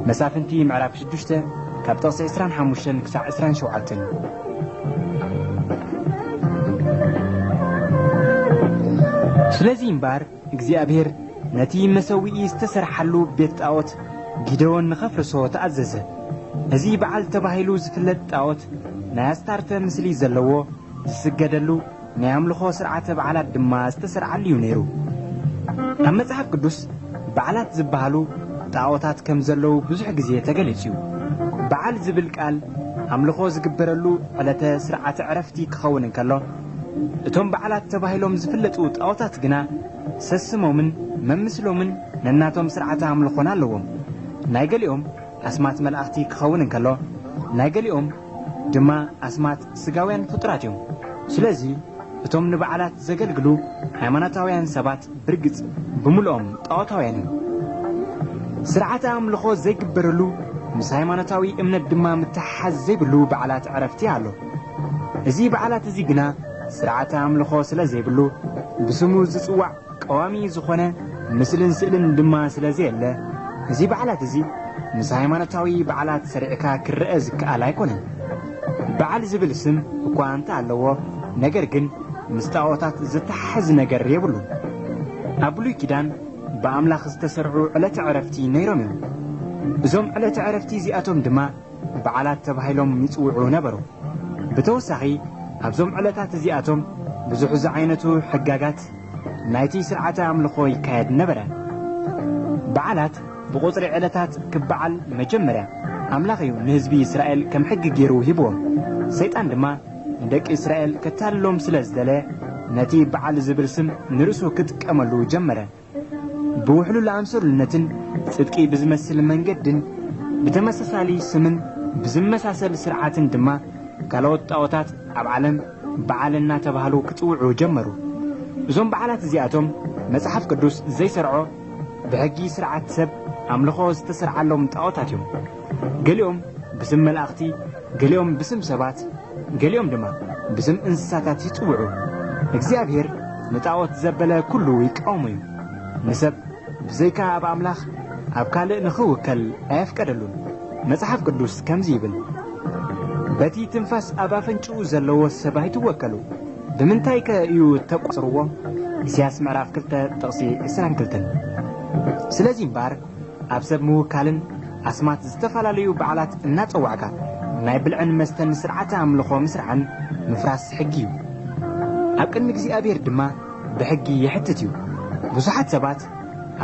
መሳፍንቲ ምዕራፍ ሽዱሽተ ካብ ጥቕሲ ዕስራን ሓሙሽተን ክሳዕ ዕስራን ሸውዓተን። ስለዚ እምበኣር፣ እግዚኣብሄር ነቲ መሰውኢ ዝተሰርሓሉ ቤት ጣኦት ጊደዎን ንኸፍርሶ ተኣዘዘ። እዚ በዓል ተባሂሉ ዝፍለጥ ጣኦት ናይ ኣስታርተ ምስሊ ዘለዎ ዝስገደሉ ናይ ኣምልኾ ስርዓተ በዓላት ድማ ዝተሰርዓሉ እዩ ነይሩ። ኣብ መጽሓፍ ቅዱስ በዓላት ዝበሃሉ ጣኦታት ከም ዘለዉ ብዙሕ ግዜ ተገሊጹ እዩ። በዓል ዝብል ቃል ኣምልኾ ዝግበረሉ ዕለተ ስርዓተ ዕረፍቲ ክኸውን እንከሎ፣ እቶም በዓላት ተባሂሎም ዝፍለጡ ጣዖታት ግና ሰስሞምን መምስሎምን ነናቶም ስርዓተ ኣምልኾና ኣለዎም። ናይ ገሊኦም ኣስማት መላእኽቲ ክኸውን እንከሎ፣ ናይ ገሊኦም ድማ ኣስማት ስጋውያን ፍጡራት እዮም። ስለዚ እቶም ንበዓላት ዘገልግሉ ሃይማኖታውያን ሰባት፣ ብርግጽ ብምልኦም ጣዖታውያን እዮም። ስርዓተ ኣምልኾ ዘይግበረሉ ምስ ሃይማኖታዊ እምነት ድማ ምትሕሓዝ ዘይብሉ በዓላት ዕረፍቲ ኣሎ። እዚ በዓላት እዚ ግና ስርዓተ ኣምልኾ ስለ ዘይብሉ ብስሙ ዝጽዋዕ ቀዋሚ ዝኾነ ምስልን ስእልን ድማ ስለ ዘየለ እዚ በዓላት እዚ ምስ ሃይማኖታዊ በዓላት ሰሪዕካ ክረኣ ዝከኣል ኣይኮነን። በዓል ዝብል ስም እኳ እንተ ኣለዎ፣ ነገር ግን ምስ ጣኦታት ዚተሓሕዝ ነገር የብሉን። ኣብ ብሉይ ኪዳን ብኣምላኽ ዝተሰርዑ ዕለተ ዕረፍቲ ነይሮም እዮም። እዞም ዕለተ ዕረፍቲ እዚኣቶም ድማ በዓላት ተባሂሎም ይጽውዑ ነበሩ። ብተወሳኺ ኣብዞም ዕለታት እዚኣቶም ብዙሕ ዝዓይነቱ ሕጋጋት ናይቲ ስርዓተ ኣምልኾ ይካየድ ነበረ። በዓላት ብቑጽሪ ዕለታት ክበዓል መጀመርያ ኣምላኽ እዩ ንህዝቢ እስራኤል ከም ሕጊ ገይሩ ሂብዎም። ሰይጣን ድማ ንደቂ እስራኤል ከታልሎም ስለ ዝደለየ ነቲ በዓል ዝብል ስም ንርእሱ ክጥቀመሉ ጀመረ። ብውሕሉል ኣምሰሉነትን ጽድቂ ብዝመስል መንገድን ብተመሳሳሊ ስምን ብዝመሳሰል ስርዓትን ድማ ካልኦት ጣኦታት ኣብ ዓለም በዓል እናተባህሉ ክጽውዑ ጀመሩ። እዞም በዓላት እዚኣቶም መጽሓፍ ቅዱስ ዘይሰርዖ ብሕጊ ስርዓት ሰብ ኣምልኾ ዝተሰርዓሎም ጣዖታት እዮም። ገሊኦም ብስም መላእኽቲ፣ ገሊኦም ብስም ሰባት፣ ገሊኦም ድማ ብስም እንስሳታት ይጽውዑ። እግዚኣብሔር ንጣዖት ዘበለ ኩሉ ይቃወሙ እዩ። ንሰብ ብዘይካ ኣብ ኣምላኽ ኣብ ካልእ ንኽውከል ኣየፍቀደሉን። መጽሓፍ ቅዱስ ከምዚ ይብል፣ በቲ ትንፋስ ኣብ ኣፈንጭኡ ዘለዎ ሰብ ኣይትወከሉ። ብምንታይ ከ እዩ እተቈጽርዎ? ኢሳያስ ምዕራፍ ክልተ ጥቕሲ ዕስራን ክልተን። ስለዚ እምበኣር ኣብ ሰብ ምውካልን ኣስማት ዝተፈላለዩ በዓላት እናጸዋዕካ ናይ ብልዕን መስተን ስርዓተ ኣምልኾ ምስራዕን ምፍራስ ሕጊ እዩ። ኣብ ቅድሚ እግዚኣብሔር ድማ ብሕጊ የሕትት እዩ። ብዙሓት ሰባት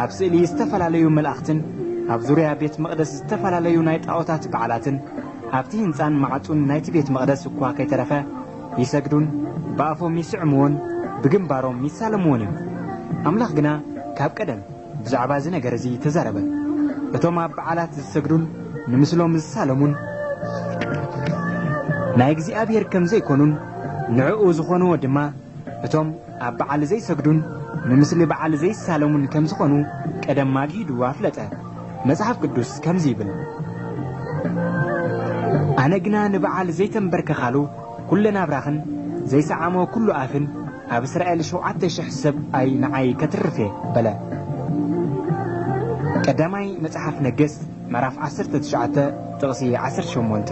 ኣብ ስእሊ ዝተፈላለዩ መላእኽትን ኣብ ዙርያ ቤት መቕደስ ዝተፈላለዩ ናይ ጣኦታት በዓላትን ኣብቲ ህንጻን መዓጹን ናይቲ ቤት መቕደስ እኳ ከይተረፈ ይሰግዱን ብኣፎም ይስዕምዎን ብግንባሮም ይሳለምዎን እዮም። ኣምላኽ ግና ካብ ቀደም ብዛዕባ እዚ ነገር እዚ ተዛረበ። እቶም ኣብ በዓላት ዝሰግዱን ንምስሎም ዝሳለሙን ናይ እግዚኣብሔር ከም ዘይኮኑን ንዕኡ ዝኾንዎ ድማ እቶም ኣብ በዓል ዘይሰግዱን ንምስሊ በዓል ዘይሳለሙን ከም ዝኾኑ ቀደም ማግሂዱ ኣፍለጠ። መጽሓፍ ቅዱስ ከምዚ ይብል፣ ኣነ ግና ንበዓል ዘይተምበርከኻሉ ኩለ ናብራኽን ዘይሰዓሞ ኩሉ ኣፍን ኣብ እስራኤል ሸውዓተ ሽሕ ሰብ ኣይ ንዓይ ከትርፍ እየ በለ። ቀዳማይ መጽሓፍ ነገሥት ምዕራፍ ዓሰርተ ትሽዓተ ጥቕሲ ዓሰርተ ሸሞንተ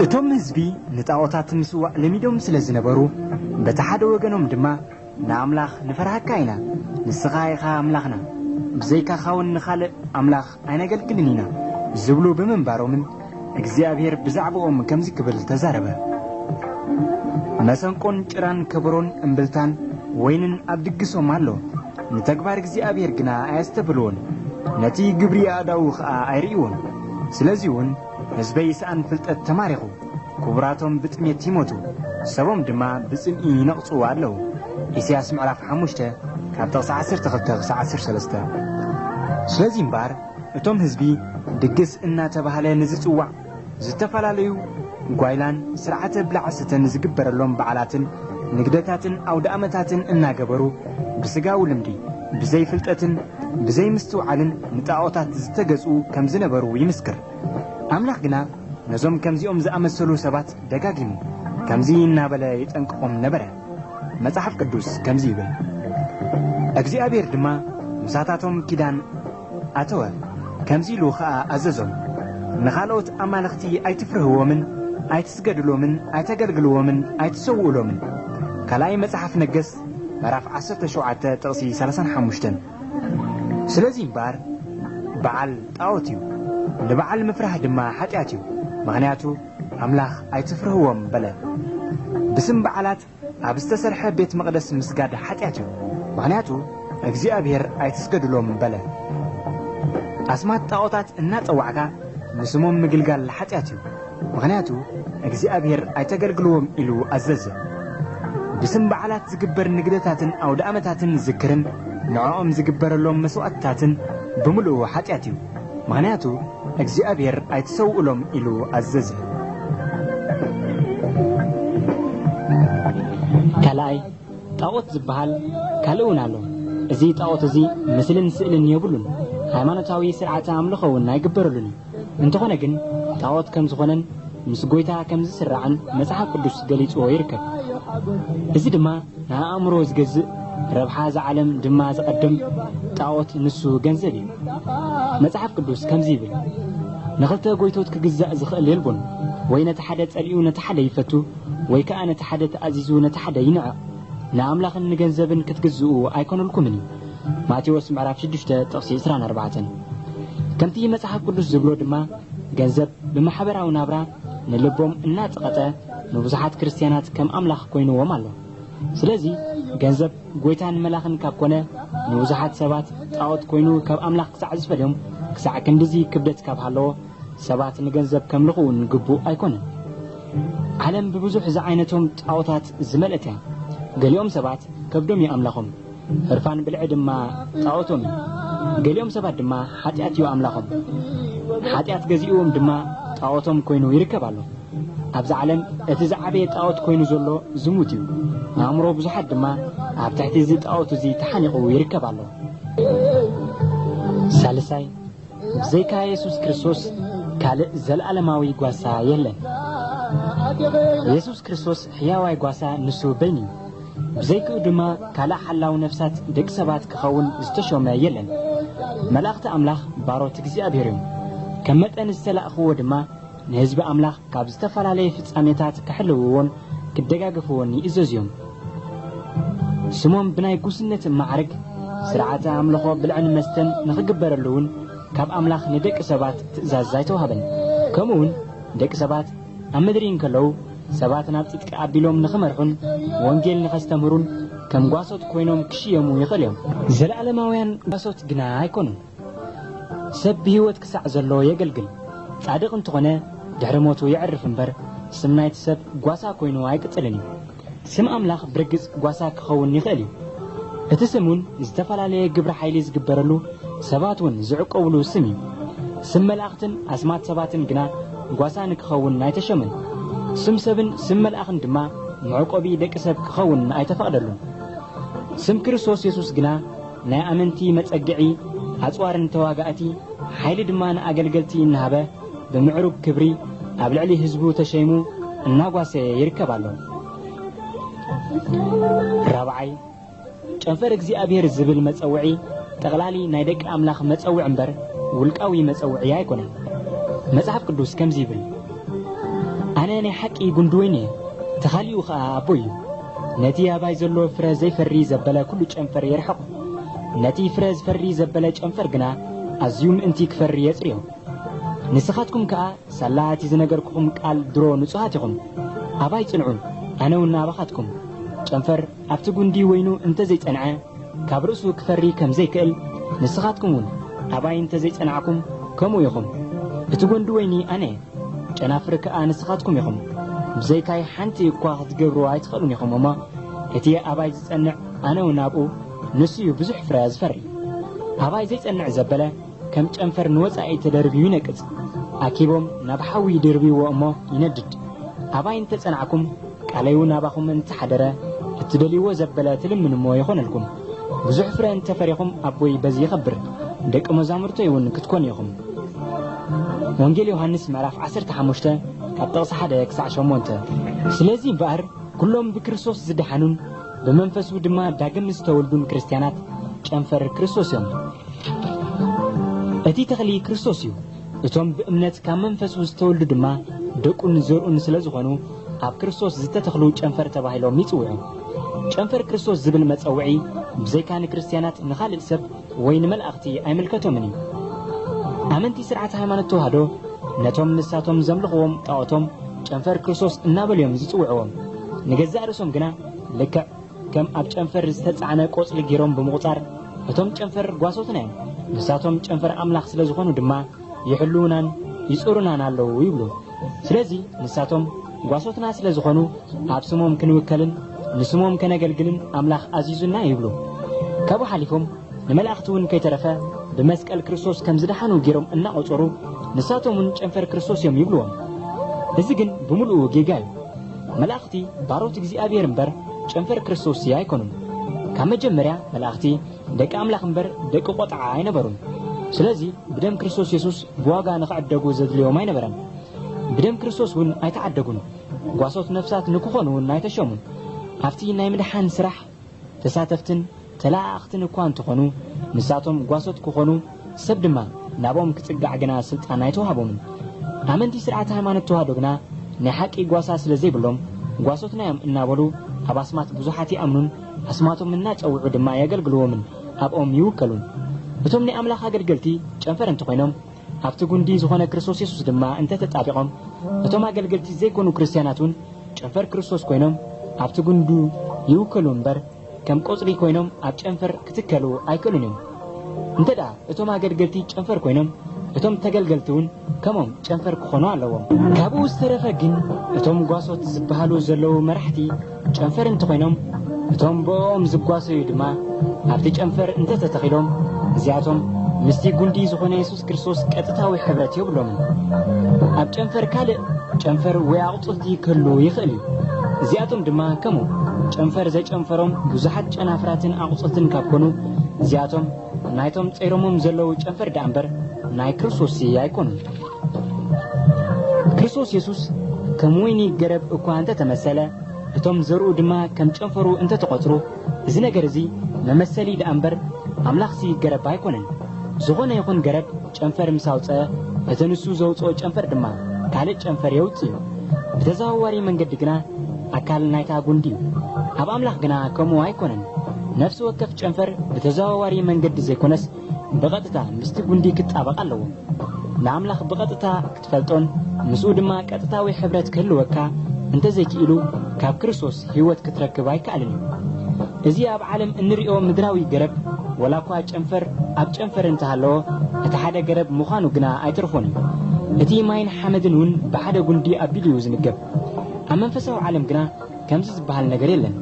እቶም ህዝቢ ንጣዖታት ምስዋዕ ለሚዶም ስለ ዝነበሩ በቲ ሓደ ወገኖም ድማ ንኣምላኽ ንፈርሃካ ኢና ንስኻ ኢኻ ኣምላኽና ብዘይካኻውን ንኻልእ ኣምላኽ ኣይነገልግልን ኢና ዝብሉ ብምንባሮምን እግዚኣብሄር ብዛዕባኦም ከምዚ ክብል ተዛረበ፣ መሰንቆን ጭራን ከበሮን እምብልታን ወይንን ኣብ ድግሶም ኣሎ፣ ንተግባር እግዚኣብሄር ግና ኣየስተብህልዎን፣ ነቲ ግብሪ ኣእዳዉ ኸኣ ኣይርእይዎን። ስለዚውን ህዝበይ ሰኣን ፍልጠት ተማሪኹ፣ ክቡራቶም ብጥሜት ይሞቱ፣ ሰቦም ድማ ብጽምኢ ይነቕጹ ኣለዉ። ኢሳያስ ምዕራፍ ሓሙሽተ ካብ ጥቕሲ ዓሰርተ ክልተ ክሳዕ ዓሰርተ ሰለስተ ስለዚ እምበኣር፣ እቶም ህዝቢ ድግስ እናተባህለ ንዝፅዋዕ ዝተፈላለዩ ጓይላን ስርዓተ ብላዕ ስተን ዝግበረሎም በዓላትን ንግደታትን ኣውደኣመታትን እናገበሩ ብስጋዊ ልምዲ ብዘይ ፍልጠትን ብዘይ ምስትውዓልን ንጣኦታት ዝተገዝኡ ከምዝነበሩ ይምስክር። ኣምላኽ ግና ነዞም ከምዚኦም ዝኣመሰሉ ሰባት ደጋጊሙ ከምዚ እናበለ የጠንቅቖም ነበረ። መጽሓፍ ቅዱስ ከምዚ ይብል፣ እግዚኣብሄር ድማ ምሳታቶም ኪዳን ኣተወ፣ ከምዚ ኢሉ ኸኣ ኣዘዞም፣ ንኻልኦት ኣማልኽቲ ኣይትፍርህዎምን፣ ኣይትስገድሎምን፣ ኣይተገልግልዎምን፣ ኣይትሰውኡሎምን። ካልኣይ መጽሓፍ ነገሥት ምዕራፍ ዓሰርተ ሸውዓተ ጥቕሲ ሰላሳን ሓሙሽተን። ስለዚ እምበኣር በዓል ጣዖት እዩ፣ ንበዓል ምፍራህ ድማ ሓጢኣት እዩ፣ ምኽንያቱ ኣምላኽ ኣይትፍርህዎም በለ። ብስም በዓላት ኣብ ዝተሰርሐ ቤት መቕደስ ምስጋድ ሓጢኣት እዩ፣ ምኽንያቱ እግዚኣብሔር ኣይትስገዱሎም በለ። ኣስማት ጣዖታት እናጸዋዕካ ንስሞም ምግልጋል ሓጢኣት እዩ፣ ምኽንያቱ እግዚኣብሔር ኣይተገልግልዎም ኢሉ ኣዘዘ። ብስም በዓላት ዝግበር ንግደታትን ኣውደኣመታትን ዝክርን ንዕኦም ዝግበረሎም መስዋእትታትን ብምልኡ ሓጢኣት እዩ፣ ምኽንያቱ እግዚኣብሔር ኣይትሰውእሎም ኢሉ ኣዘዘ። ካልኣይ፣ ጣዖት ዝበሃል ካልእ እውን ኣሎ። እዚ ጣዖት እዚ ምስልን ስእልን የብሉን፣ ሃይማኖታዊ ስርዓተ ኣምልኾ እውን ኣይግበረሉን እዩ። እንተኾነ ግን ጣዖት ከም ዝኾነን ምስ ጎይታ ከም ዝስራዕን መጽሓፍ ቅዱስ ገሊጽዎ ይርከብ። እዚ ድማ ንኣእምሮ ዝገዝእ ረብሓ እዛ ዓለም ድማ ዝቐድም ጣኦት ንሱ ገንዘብ እዩ። መጽሓፍ ቅዱስ ከምዚ ይብል ንኽልተ ጎይቶት ክግዛእ ዝኽእል የልቦን ወይ ነቲ ሓደ ጸሊኡ ነቲ ሓደ ይፈቱ ወይ ከኣ ነቲ ሓደ ተኣዚዙ ነቲ ሓደ ይንዕቕ ንኣምላኽን ንገንዘብን ክትግዝኡ ኣይኮነልኩምን እዩ ማቴዎስ ምዕራፍ ሽዱሽተ ጥቕሲ ዕስራን ኣርባዕተን ከምቲ መጽሓፍ ቅዱስ ዝብሎ ድማ ገንዘብ ብማሕበራዊ ናብራ ንልቦም እናጸቐጠ ንብዙሓት ክርስትያናት ከም ኣምላኽ ኮይንዎም ኣሎ። ስለዚ ገንዘብ ጎይታን መላኽን ካብ ኮነ ንብዙሓት ሰባት ጣዖት ኮይኑ ካብ ኣምላኽ ክሳዕ ዝፈልዮም ክሳዕ ክንድዚ ክብደት ካብ ሃለዎ ሰባት ንገንዘብ ከምልኹ እውን ግቡእ ኣይኮነን። ዓለም ብብዙሕ ዝዓይነቶም ጣዖታት ዝመልእት እያ። ገሊኦም ሰባት ከብዶም እዩ ኣምላኾም። ህርፋን ብልዒ ድማ ጣዖቶም እዩ። ገሊኦም ሰባት ድማ ሓጢኣት እዩ ኣምላኾም። ሓጢኣት ገዚእዎም ድማ ጣዖቶም ኮይኑ ይርከብ ኣሎ። ኣብዚ ዓለም እቲ ዝዓበየ ጣዖት ኮይኑ ዘሎ ዝሙት እዩ። ኣእምሮ ብዙሓት ድማ ኣብ ትሕቲ እዚ ጣዖት እዚ ተሓኒቑ ይርከብ ኣሎ። ሳልሳይ፣ ብዘይካ የሱስ ክርስቶስ ካልእ ዘልኣለማዊ ጓሳ የለን። የሱስ ክርስቶስ ሕያዋይ ጓሳ ንሱ በይኑ እዩ። ብዘይክኡ ድማ ካልእ ሓላው ነፍሳት ደቂ ሰባት ክኸውን ዝተሾመ የለን። መላእኽቲ ኣምላኽ ባሮት እግዚኣብሔር እዮም። ከም መጠን ዝተላእክዎ ድማ ንህዝቢ ኣምላኽ ካብ ዝተፈላለየ ፍጻሜታት ኪሕልውዎን ኪደጋገፍዎን ይእዘዙ እዮም። ስሞም ብናይ ጉስነት ማዕርግ ሥርዓተ ኣምልኾ ብልዕን መስተን ንኺግበረሉ እውን ካብ ኣምላኽ ንደቂ ሰባት ትእዛዝ ኣይተዋህበን። ከምኡውን ደቂ ሰባት ኣብ ምድሪ እንከለዉ ሰባት ናብ ጽድቂ ኣቢሎም ንኺመርሑን ወንጌል ንኼስተምህሩን ከም ጓሶት ኮይኖም ኪሽየሙ ይኽእሉ እዮም። ዘለዓለማውያን ጓሶት ግና ኣይኮኑን። ሰብ ብህይወት ክሳዕ ዘሎ የገልግል፣ ጻድቕ እንተኾነ ድሕሪ ሞቱ የዕርፍ እምበር፣ ስም ናይቲ ሰብ ጓሳ ኮይኑ ኣይቅጽልን እዩ። ስም ኣምላኽ ብርግጽ ጓሳ ክኸውን ይኽእል እዩ። እቲ ስም እውን ዝተፈላለየ ግብረ ሓይሊ ዝግበረሉ፣ ሰባት እውን ዝዕቆብሉ ስም እዩ። ስም መላእኽትን ኣስማት ሰባትን ግና ጓሳ ንክኸውን ኣይተሾመን። ስም ሰብን ስም መልኣኽን ድማ መዕቆቢ ደቂ ሰብ ክኸውን ኣይተፈቕደሉን። ስም ክርስቶስ የሱስ ግና፣ ናይ ኣመንቲ መጸግዒ፣ ኣጽዋር ንተዋጋእቲ፣ ሓይሊ ድማ ንኣገልገልቲ እናሃበ ብምዕሩግ ክብሪ ኣብ ልዕሊ ህዝቡ ተሸይሙ እናጓሰየ ይርከብ ኣሎ። ራብዓይ፣ ጨንፈር እግዚኣብሔር ዝብል መጸውዒ ጠቕላሊ ናይ ደቂ ኣምላኽ መጸውዒ እምበር ውልቃዊ መጸውዒ ኣይኮነን። መጽሓፍ ቅዱስ ከምዚ ይብል፣ ኣነ ናይ ሓቂ ጉንዲ ወይኒ እየ፣ ተኻሊኡ ኸኣ ኣቦይ እዩ። ነቲ ኣባይ ዘሎ ፍረ ዘይፈሪ ዘበለ ኩሉ ጨንፈር የርሕቆ፣ ነቲ ፍረ ዝፈሪ ዘበለ ጨንፈር ግና ኣዝዩ ምእንቲ ክፈሪ የጽርዮ። ንስኻትኩም ከኣ ሳላ እቲ ዝነገርኩኹም ቃል ድሮ ንጹሃት ኢኹም፣ ኣባይ ጽንዑ፣ ኣነውን ኣባኻትኩም። ጨንፈር ኣብቲ ጉንዲ ወይኑ እንተ ዘይጸንዐ ካብ ርእሱ ክፈሪ ከም ዘይክእል፣ ንስኻትኩምውን ኣባይ እንተ ዘይጸናዕኩም ከምኡ ኢኹም። እቲ ጎንዲ ወይኒ ኣነ እየ። ጨናፍር ከኣ ንስኻትኩም ኢኹም፣ ብዘይካይ ሓንቲ እኳ ኽትገብርዋ ኣይትኽእሉን ኢኹም እሞ፣ እቲ ኣባይ ዚጸንዕ፣ ኣነውን ኣብኡ፣ ንሱ እዩ ብዙሕ ፍረ ዚፈሪ። ኣባይ ዘይጸንዕ ዘበለ፣ ከም ጨንፈር ንወጻኢ ተደርብዩ ይነቅጽ፣ ኣኪቦም ናብ ሓዊ ይድርብይዎ እሞ ይነድድ። ኣባይ እንተ ጸናዕኩም፣ ቃለይውን ኣባኹም እንተ ሓደረ፣ እትደልይዎ ዘበለ ትልምንዎ ይኾነልኩም። ብዙሕ ፍረ እንተ ፈሬኹም ኣቦይ በዚ ይኸብር ደቂ መዛሙርቶይ እውን ክትኮኑ ኢኹም። ወንጌል ዮሃንስ ምዕራፍ ዓሰርተ ሓሙሽተ ካብ ጥቕሲ ሓደ ክሳዕ ሸሞንተ ስለዚ እምበኣር ኩሎም ብክርስቶስ ዝደሓኑን ብመንፈሱ ድማ ዳግም ዝተወልዱን ክርስትያናት ጨንፈር ክርስቶስ እዮም። እቲ ተኽሊ ክርስቶስ እዩ። እቶም ብእምነት ካብ መንፈሱ ዝተወልዱ ድማ ደቁን ዘርኡን ስለ ዝኾኑ ኣብ ክርስቶስ ዝተተኽሉ ጨንፈር ተባሂሎም ይጽውዑ። ጨንፈር ክርስቶስ ዝብል መጸውዒ ብዘይካ ንክርስትያናት ንኻልእ ሰብ ወይ ንመላእኽቲ ኣይምልከቶምን እዩ። ኣመንቲ ስርዓት ሃይማኖት ተዋህዶ ነቶም ንሳቶም ዘምልኽዎም ጣኦቶም ጨንፈር ክርስቶስ እናበሉ እዮም ዝጽውዕዎም። ንገዛእ ርእሶም ግና ልክዕ ከም ኣብ ጨንፈር ዝተጻዕነ ቆጽሊ ጌሮም ብምቑጻር እቶም ጨንፈር ጓሶትና እዮም፣ ንሳቶም ጨንፈር ኣምላኽ ስለ ዝኾኑ ድማ ይሕልዉናን ይጽሩናን ኣለዉ ይብሉ። ስለዚ ንሳቶም ጓሶትና ስለ ዝኾኑ ኣብ ስሞም ክንውከልን ንስሞም ከነገልግልን ኣምላኽ ኣዚዙና ይብሉ። ካብኡ ሓሊፎም ንመላእኽቲ እውን ከይተረፈ ብመስቀል ክርስቶስ ከም ዝደሓኑ ጌሮም እናቖጸሩ ንሳቶም እውን ጨንፈር ክርስቶስ እዮም ይብልዎም። እዚ ግን ብምሉኡ ጌጋ እዩ። መላእኽቲ ባሮት እግዚኣብሔር እምበር ጨንፈር ክርስቶስ ኣይኮኑን። ካብ መጀመርያ መላእኽቲ ደቂ ኣምላኽ እምበር ደቂ ቆጥዓ ኣይነበሩን። ስለዚ ብደም ክርስቶስ የሱስ ብዋጋ ንኽዕደጉ ዘድልዮም ኣይነበረን። ብደም ክርስቶስ እውን ኣይተዓደጉን። ጓሶት ነፍሳት ንክኾኑ እውን ኣይተሸሙን። ኣብቲ ናይ ምድሓን ስራሕ ተሳተፍትን ተለኣኣኽትን እኳ እንተኾኑ፣ ንሳቶም ጓሶት ክኾኑ፣ ሰብ ድማ ናብኦም ክጽጋዕ ግና ስልጣን ኣይተዋህቦምን። ኣመንቲ ስርዓተ ሃይማኖት ተዋህዶ ግና ናይ ሓቂ ጓሳ ስለ ዘይብሎም፣ ጓሶትና'ዮም እናበሉ ኣብ ኣስማት ብዙሓት ይኣምኑን ኣስማቶም እናጸውዑ ድማ የገልግልዎምን ኣብኦም ይውከሉን። እቶም ናይ ኣምላኽ ኣገልገልቲ ጨንፈር እንተኾይኖም፣ ኣብቲ ጕንዲ ዝዀነ ክርስቶስ የሱስ ድማ እንተ ተጣቢቖም፣ እቶም ኣገልገልቲ ዘይኰኑ ክርስትያናት እውን ጨንፈር ክርስቶስ ኰይኖም ኣብቲ ጕንዱ ይውከሉ እምበር፣ ከም ቈጽሊ ኰይኖም ኣብ ጨንፈር ኪትከሉ ኣይክእሉን እዮም። እንተድኣ እቶም ኣገልገልቲ ጨንፈር ኰይኖም፣ እቶም ተገልገልቲ እውን ከምኦም ጨንፈር ኪዀኑ ኣለዎም። ካብኡ ዝተረፈ ግን፣ እቶም ጓሶት ዚብሃሉ ዘለዉ መራሕቲ፣ ጨንፈር እንተኾይኖም እቶም ብእኦም ዝጓሰዩ ድማ ኣብቲ ጨንፈር እንተተተኺሎም እዚኣቶም ምስቲ ጉንዲ ዝኾነ የሱስ ክርስቶስ ቀጥታዊ ሕብረት የብሎምን። ኣብ ጨንፈር ካልእ ጨንፈር ወይ ኣቕጽልቲ ክህሉ ይኽእል እዩ። እዚኣቶም ድማ ከምኡ ጨንፈር ዘጨንፈሮም ብዙሓት ጨናፍራትን ኣቕጽልትን ካብ ኮኑ እዚኣቶም ናይቶም ጸይሮሞም ዘለዉ ጨንፈር ደኣ እምበር ናይ ክርስቶስሲ ኣይኮኑን። ክርስቶስ የሱስ ከም ወይኒ ገረብ እኳ እንተ ተመሰለ እቶም ዘርኡ ድማ ከም ጨንፈሩ እንተ ተቖጽሩ እዚ ነገር እዚ መመሰሊ ደኣ እምበር ኣምላኽሲ ገረብ ኣይኮነን። ዝኾነ ይኹን ገረብ ጨንፈር ምስ ኣውጽአ እቲ ንሱ ዘውጽኦ ጨንፈር ድማ ካልእ ጨንፈር የውጽእ እዩ። ብተዘዋዋሪ መንገዲ ግና ኣካል ናይታ ጉንዲ እዩ። ኣብ ኣምላኽ ግና ከምኡ ኣይኮነን። ነፍሲ ወከፍ ጨንፈር ብተዘዋዋሪ መንገዲ ዘይኮነስ ብቐጥታ ምስቲ ጉንዲ ክጣበቕ ኣለዎ። ንኣምላኽ ብቐጥታ ክትፈልጦን ምስኡ ድማ ቀጥታዊ ሕብረት ክህልወካ እንተ ዘይክኢሉ ካብ ክርስቶስ ህይወት ክትረክብ ኣይከኣልን እዩ። እዚ ኣብ ዓለም እንርእዮ ምድራዊ ገረብ ወላኳ ጨንፈር ኣብ ጨንፈር እንተ ሃለወ እቲ ሓደ ገረብ ምዃኑ ግና ኣይተርፎን እዩ። እቲ ማይን ሓመድን እውን ብሓደ ጉንዲ ኣቢሉ እዩ ዝምገብ። ኣብ መንፈሳዊ ዓለም ግና ከምዚ ዝበሃል ነገር የለን።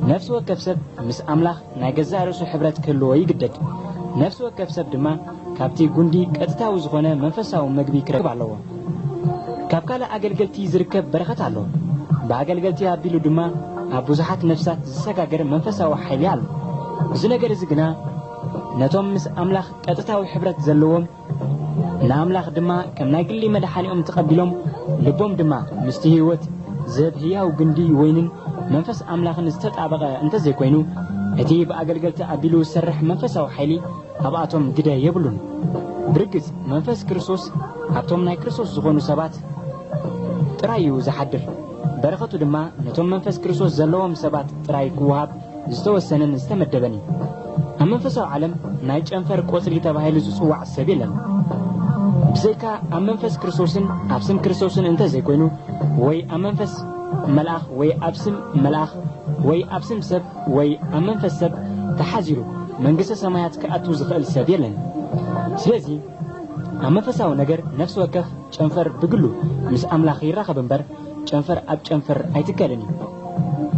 ነፍሲ ወከፍ ሰብ ምስ ኣምላኽ ናይ ገዛእ ርእሱ ሕብረት ክህልዎ ይግደድ። ነፍሲ ወከፍ ሰብ ድማ ካብቲ ጉንዲ ቀጥታዊ ዝኾነ መንፈሳዊ መግቢ ክረክብ ኣለዎ። ካብ ካልእ ኣገልገልቲ ዝርከብ በረኸት ኣሎ። ብኣገልገልቲ ኣቢሉ ድማ ኣብ ብዙሓት ነፍሳት ዝሰጋገር መንፈሳዊ ሓይሊ ኣሎ። እዚ ነገር እዚ ግና ነቶም ምስ ኣምላኽ ቀጥታዊ ሕብረት ዘለዎም ንኣምላኽ ድማ ከም ናይ ግሊ መድሓኒኦም ተቐቢሎም ልቦም ድማ ምስቲ ህይወት ዝህብ ህያው ግንዲ ወይንን መንፈስ ኣምላኽን ዝተጣበቐ እንተዘይኮይኑ እቲ ብኣገልገልቲ ኣቢሉ ዝሰርሕ መንፈሳዊ ሓይሊ ኣብኣቶም ግደ የብሉን። ብርግጽ መንፈስ ክርስቶስ ኣብቶም ናይ ክርስቶስ ዝኾኑ ሰባት ጥራይ እዩ ዝሓድር። በረኸቱ ድማ ነቶም መንፈስ ክርስቶስ ዘለዎም ሰባት ጥራይ ክወሃብ ዝተወሰነን ዝተመደበን እዩ። ኣብ መንፈሳዊ ዓለም ናይ ጨንፈር ቆጽሊ ተባሂሉ ዝጽዋዕ ሰብ የለን። ብዘይካ ኣብ መንፈስ ክርስቶስን ኣብ ስም ክርስቶስን እንተ ዘይኮይኑ ወይ ኣብ መንፈስ መልኣኽ ወይ ኣብ ስም መልኣኽ ወይ ኣብ ስም ሰብ ወይ ኣብ መንፈስ ሰብ ተሓዚሩ መንግስተ ሰማያት ክኣቱ ዝኽእል ሰብ የለን። ስለዚ ኣብ መንፈሳዊ ነገር ነፍሲ ወከፍ ጨንፈር ብግሉ ምስ ኣምላኽ ይራኸብ እምበር ጨንፈር ኣብ ጨንፈር ኣይትከልን እዩ።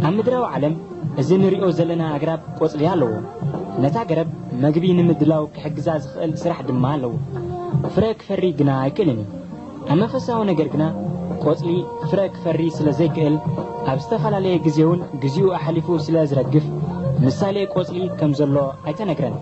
ኣብ ምድራዊ ዓለም እዚ ንሪኦ ዘለና ኣግራብ ቆጽሊ ኣለዎ። ነታ ገረብ መግቢ ንምድላው ክሕግዛ ዝኽእል ስራሕ ድማ ኣለዎ። ፍረ ክፈሪ ግና ኣይክእልን እዩ። ኣብ መንፈሳዊ ነገር ግና ቆጽሊ ፍረ ክፈሪ ስለ ዘይክእል ኣብ ዝተፈላለየ ግዜውን ግዚኡ ኣሕሊፉ ስለ ዝረግፍ ምሳሌ ቆጽሊ ከም ዘሎ ኣይተነግረን።